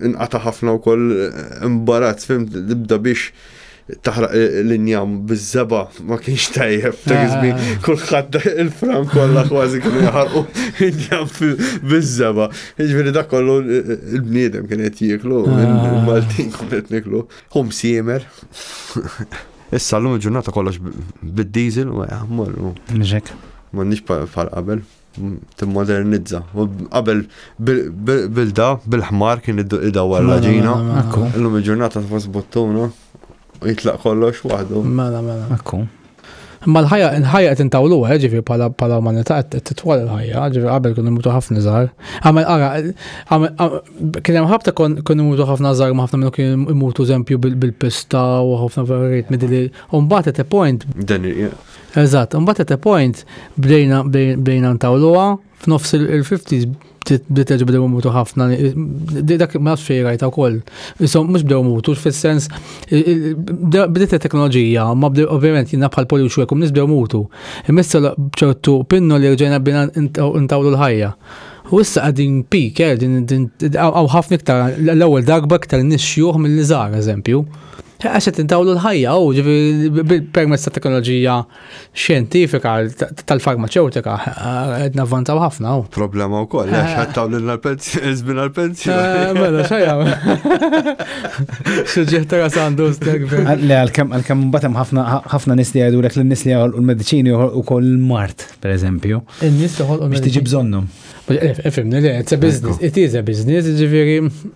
inqata' ħafna wkoll imbarazz fim tibda biex taħraq l-injam bizzeba ma kienx tajjeb ta' għizmi ah. kullħat il-fram kollha kważi kienu jaħarqu injam bizzeba. Jiġifieri dak kollu il-bniedem kien qed jieklu, ah. il-Maltin kien qed niklu. Hum siemer. Issa l-lum ġurnata kollox bid-diesel u jaħmol. Nġek. Ma nix pal qabel. timmodernizza. Qabel bilda, bil-ħmar kien id-dawar l-ġina. Illum il-ġurnata tfos bottuna u jitlaq kollox waħdu. Mela, mela. Ekku. Ma l-ħajja, l-ħajja qed intawlu eh, ġifi pala pala umanità qed titwal il-ħajja, ġifi qabel kienu mutu ħafna żgħar. Għamel ara, kien hemm ħabta kon mutu ħafna żgħar ma ħafna minnu kien imutu eżempju bil-pista u ħafna affarijiet midili. Umbagħad at a point. Dan Eżatt, imbagħad at a point bdejna bdejna ntawluha f'nofs il-50s bdiet terġa' bdew imutu ħafna. Dak ma nafx fejn rajta wkoll. Isom mhux bdew imutu fis-sens bdiet it-teknoloġija, ma bdew ovvjament jiena bħal polju xwek u nies bdew imutu. Imissa ċertu pinnu li rġajna bdejna ntawlu l-ħajja. U issa qegħdin peak, hawn ħafna iktar l-ewwel darba iktar nies xjuħ milli żgħar, eżempju. Għax qed intawlu l-ħajja u ġifieri permezz ta' teknoloġija xjentifika tal-farmaceutika qed navvanzaw ħafna u. Problema wkoll għax qed tawlu l-pensjoni żmien għall-pensjoni. Eh, mela xejja. Suġġett ta' sandu stek. Le għalkemm għalkemm mbagħad hemm ħafna ħafna nies li jgħidulek li n-nies li joħolqu l-mediċini joħolqu wkoll il-mart, pereżempju. In-nies joħolqu. Biex tiġi bżonnhom. Ifimni, it's a business, it is a business, ġifieri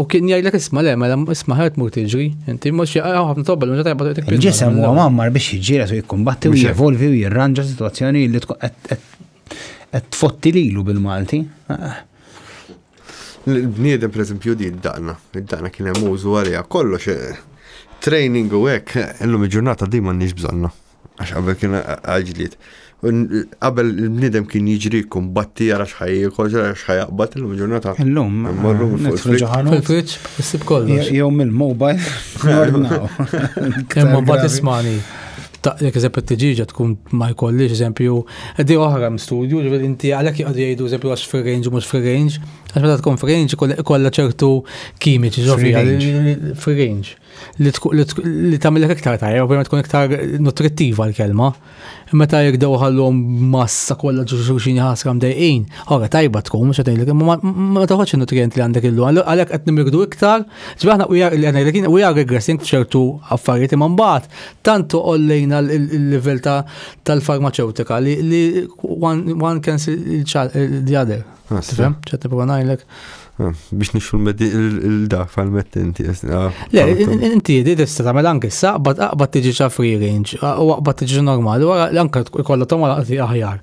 U kien jgħidlek isma' le, mela isma' ħert mur tiġri, inti mhux ħafna tobba l-meta tajba tgħidlek. Il-ġisem huwa mammar biex jiġġieled u jikkumbatti u jevolvi u jirranġa sitwazzjoni li qed tfotti lilu bil-Malti. Il-bniedem pereżempju di d-daqna, id-daqna kien hemm użu għaliha kollox training u hekk, illum il-ġurnata di m'għandniex bżonna. Għax qabel kien għaġliet. Qabel il-bniedem kien jiġri kumbatti għal xħaj jikol, xħaj jaqbat il-lum ġurnata. Il-lum. Marru nitru ġaħan. Fil-fridġ, issib kollox. Jew mill-mobile. Imma bat ismani. Jek eżempju t-tġiġa tkun ma jkollix eżempju, di oħra m-studju, ġivir inti għalek jgħadu jgħidu eżempju għax free range mux free range, għax meta tkun free range kolla ċertu kimiċi ġofi free range. li tagħmilek iktar tajjeb, ovvjament tkun iktar nutrittiva l-kelma. Meta jekk dew ħallhom massa kollha ġuxuxin ħasra mdejqin, ora tajba tkun mhux qed ngħidlek, imma ma taħodx in-nutrient li għandek illu. Għalhekk qed nimrikdu iktar, ġbir aħna ngħidlek we are regressing f'ċertu affarijiet imma mbagħad tant ollejna l-livell tal-farmaceutika li one can see the other. Tifhem? ċed nipprova ngħidlek. Ah, biex nixu l-da fal-metti inti. Ah, Le, inti di tista' tagħmel anke issa qbad aqbad tiġi ċa free range, ah, u qbad tiġi normali, u anke kollha tagħmel qati aħjar.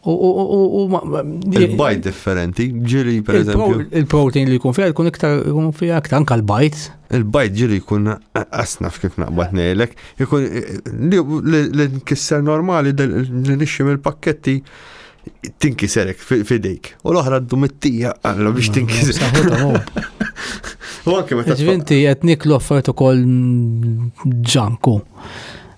Il-bajt differenti, ġiri per eżempju. Il-protein li jkun fija jkun iktar jkun fija iktar anke l-bajt. Il-bajt ġiri jkun asnaf kif naqbad ngħidlek, jkun li nkisser normali li nixxi mill-pakketti tinkiserek fidejk. U l-oħra ddu mit-tija għalla biex tinkiserek. U anke meta. Ġvinti qed niklu affarijiet ukoll ġanku.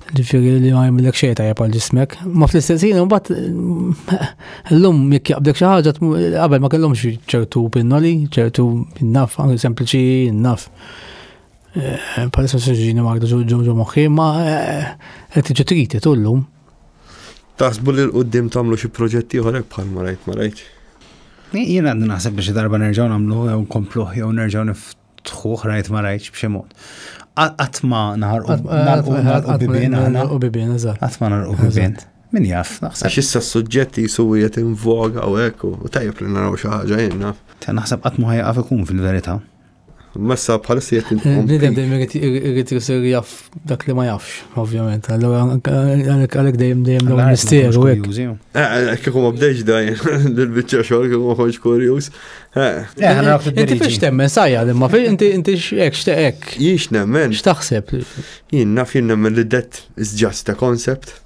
Ġifieri li ma jagħmilek xejn tajja għal ġismek. Ma fl-istess ħin imbagħad llum jekk jaqbdek xi ħaġa qabel ma kellhomx ċertu pinnoli, ċertu naf, anke sempliċi naf. Eh, palissa s-sġini ma għadu ġo moħħi, ma eh, qed tiġi triti tullum. Taħsbu li l-qoddim tagħmlu xi proġett ieħor hekk bħal ma rajt ma rajt. Jien għandi naħseb biex darba nerġgħu nagħmlu jew nkompluh jew nerġgħu niftħuh rajt ma rajtx b'xi mod. Qatt ma naħarqu naħarqu bibien aħna. U bibien eżatt. Qatt ma naħarqu bibien. Min jaf, naħseb. Għax issa s-suġġett jisu qiegħed invoga u hekk u tajjeb li naraw xi ħaġa jien naf. Naħseb qatt ma ħajqaf ikun fil-verità. Messa bħalissa jett intom. Bnidem dejjem irrit jisir jaff dak li ma jaffx, ovvjament. Allora, għalek dejjem dejjem l misteru. Kieku ma bdejx dajn, dil-bicċa xogħol kieku ma konx kurjuż. Inti fiex temmen sajja li ma fiex inti inti x'hekk x'teqek. Jiex nemmen. X'taħseb? Jien naf jien nemmen li death is just a concept.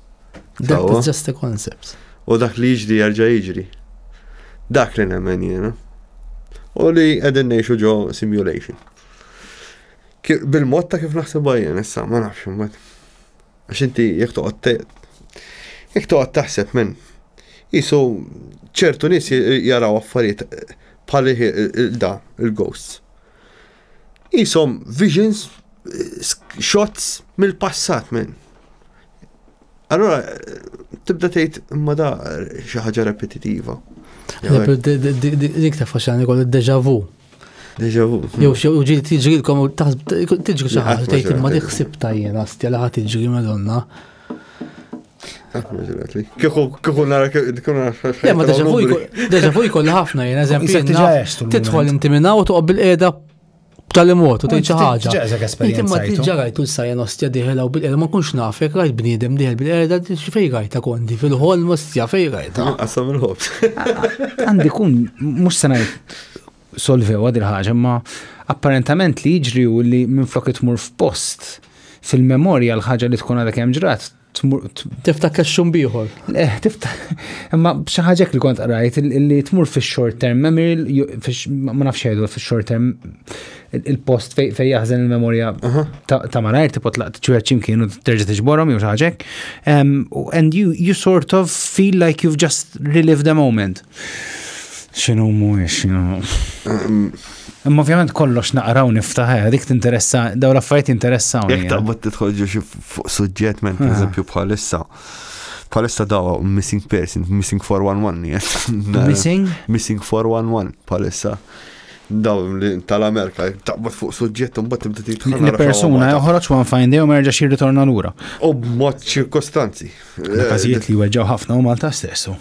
Death is just a concept. U dak li jiġri jarġa' jiġri. Dak li nemmen jiena. U li qegħdin ngħixu ġo simulation. Bil-mod ta' kif naħseb għajjen, issa ma nafx imbagħad. Għax inti jekk toqgħod jekk toqgħod taħseb minn jisu ċertu nies jaraw affarijiet bħal da il-ghosts. Qishom visions, shots mill-passat minn. Allora, tibda tgħid imma da xi ħaġa repetitiva. Dik ta' faxxan ikollu deja vu. Deja vu. Jew xi ġil tiġrilkom u tiġri xi ħaġa tgħid imma dik ħsib tajjena stja li ħadd tiġri madonna. Kieku nara kieku nara. Le, ma deġa vu jkolli ħafna jena, eżempju. Tidħol inti minna u toqgħod bil-qiegħda tal-imot u tgħid xi ħaġa. Inti ma tiġa rajtu l-sajja nostja diħela u bil-qiegħda ma kunx naf jekk rajt bniedem diħel bil-qiegħda xi fejn rajta kondi fil-ħol nostja fejn rajta. Qasam il-ħob. Għandi kun mhux se ngħid solvewha din il-ħaġa imma apparentament li jiġri hu li minflok li tmur f'post fil-memorja l-ħaġa li tkun għadha kemm ġrat tmur Tiftakar xum bieħor. eh, tiftakar imma xi ħaġa hekk li kont qrajt il- li tmur fix-short term memory l- ju- fix- ma ma nafx jgħidu fix-short term il- il-post fej fej jaħżen il-memorja ta' ta' malajr tipo tlaq ċwieħed x'imkien u terġa' tiġborhom jew xi ħaġa hekk. Em, u- And you you sort of feel like you've just relived the moment. X'inhu mhuwiex. Imma ovvjament kollox naqra u niftaħ, eh, dik tinteressa, daw l-affarijiet interessaw. Jek eh. taqbad titħolġu xi fuq suġġett minn eh. eżempju bħalissa. Bħalissa daw missing person, missing 411. Missing? Missing 411 bħalissa daw tal-Amerika, taqbad fuq suġġett un bat tibda titħanna. Li persuna joħroġ wan fajn dejjem merġa xi ritorna lura. U b'mod ċirkostanzi. Każijiet li weġġaw ħafna u Malta stessu.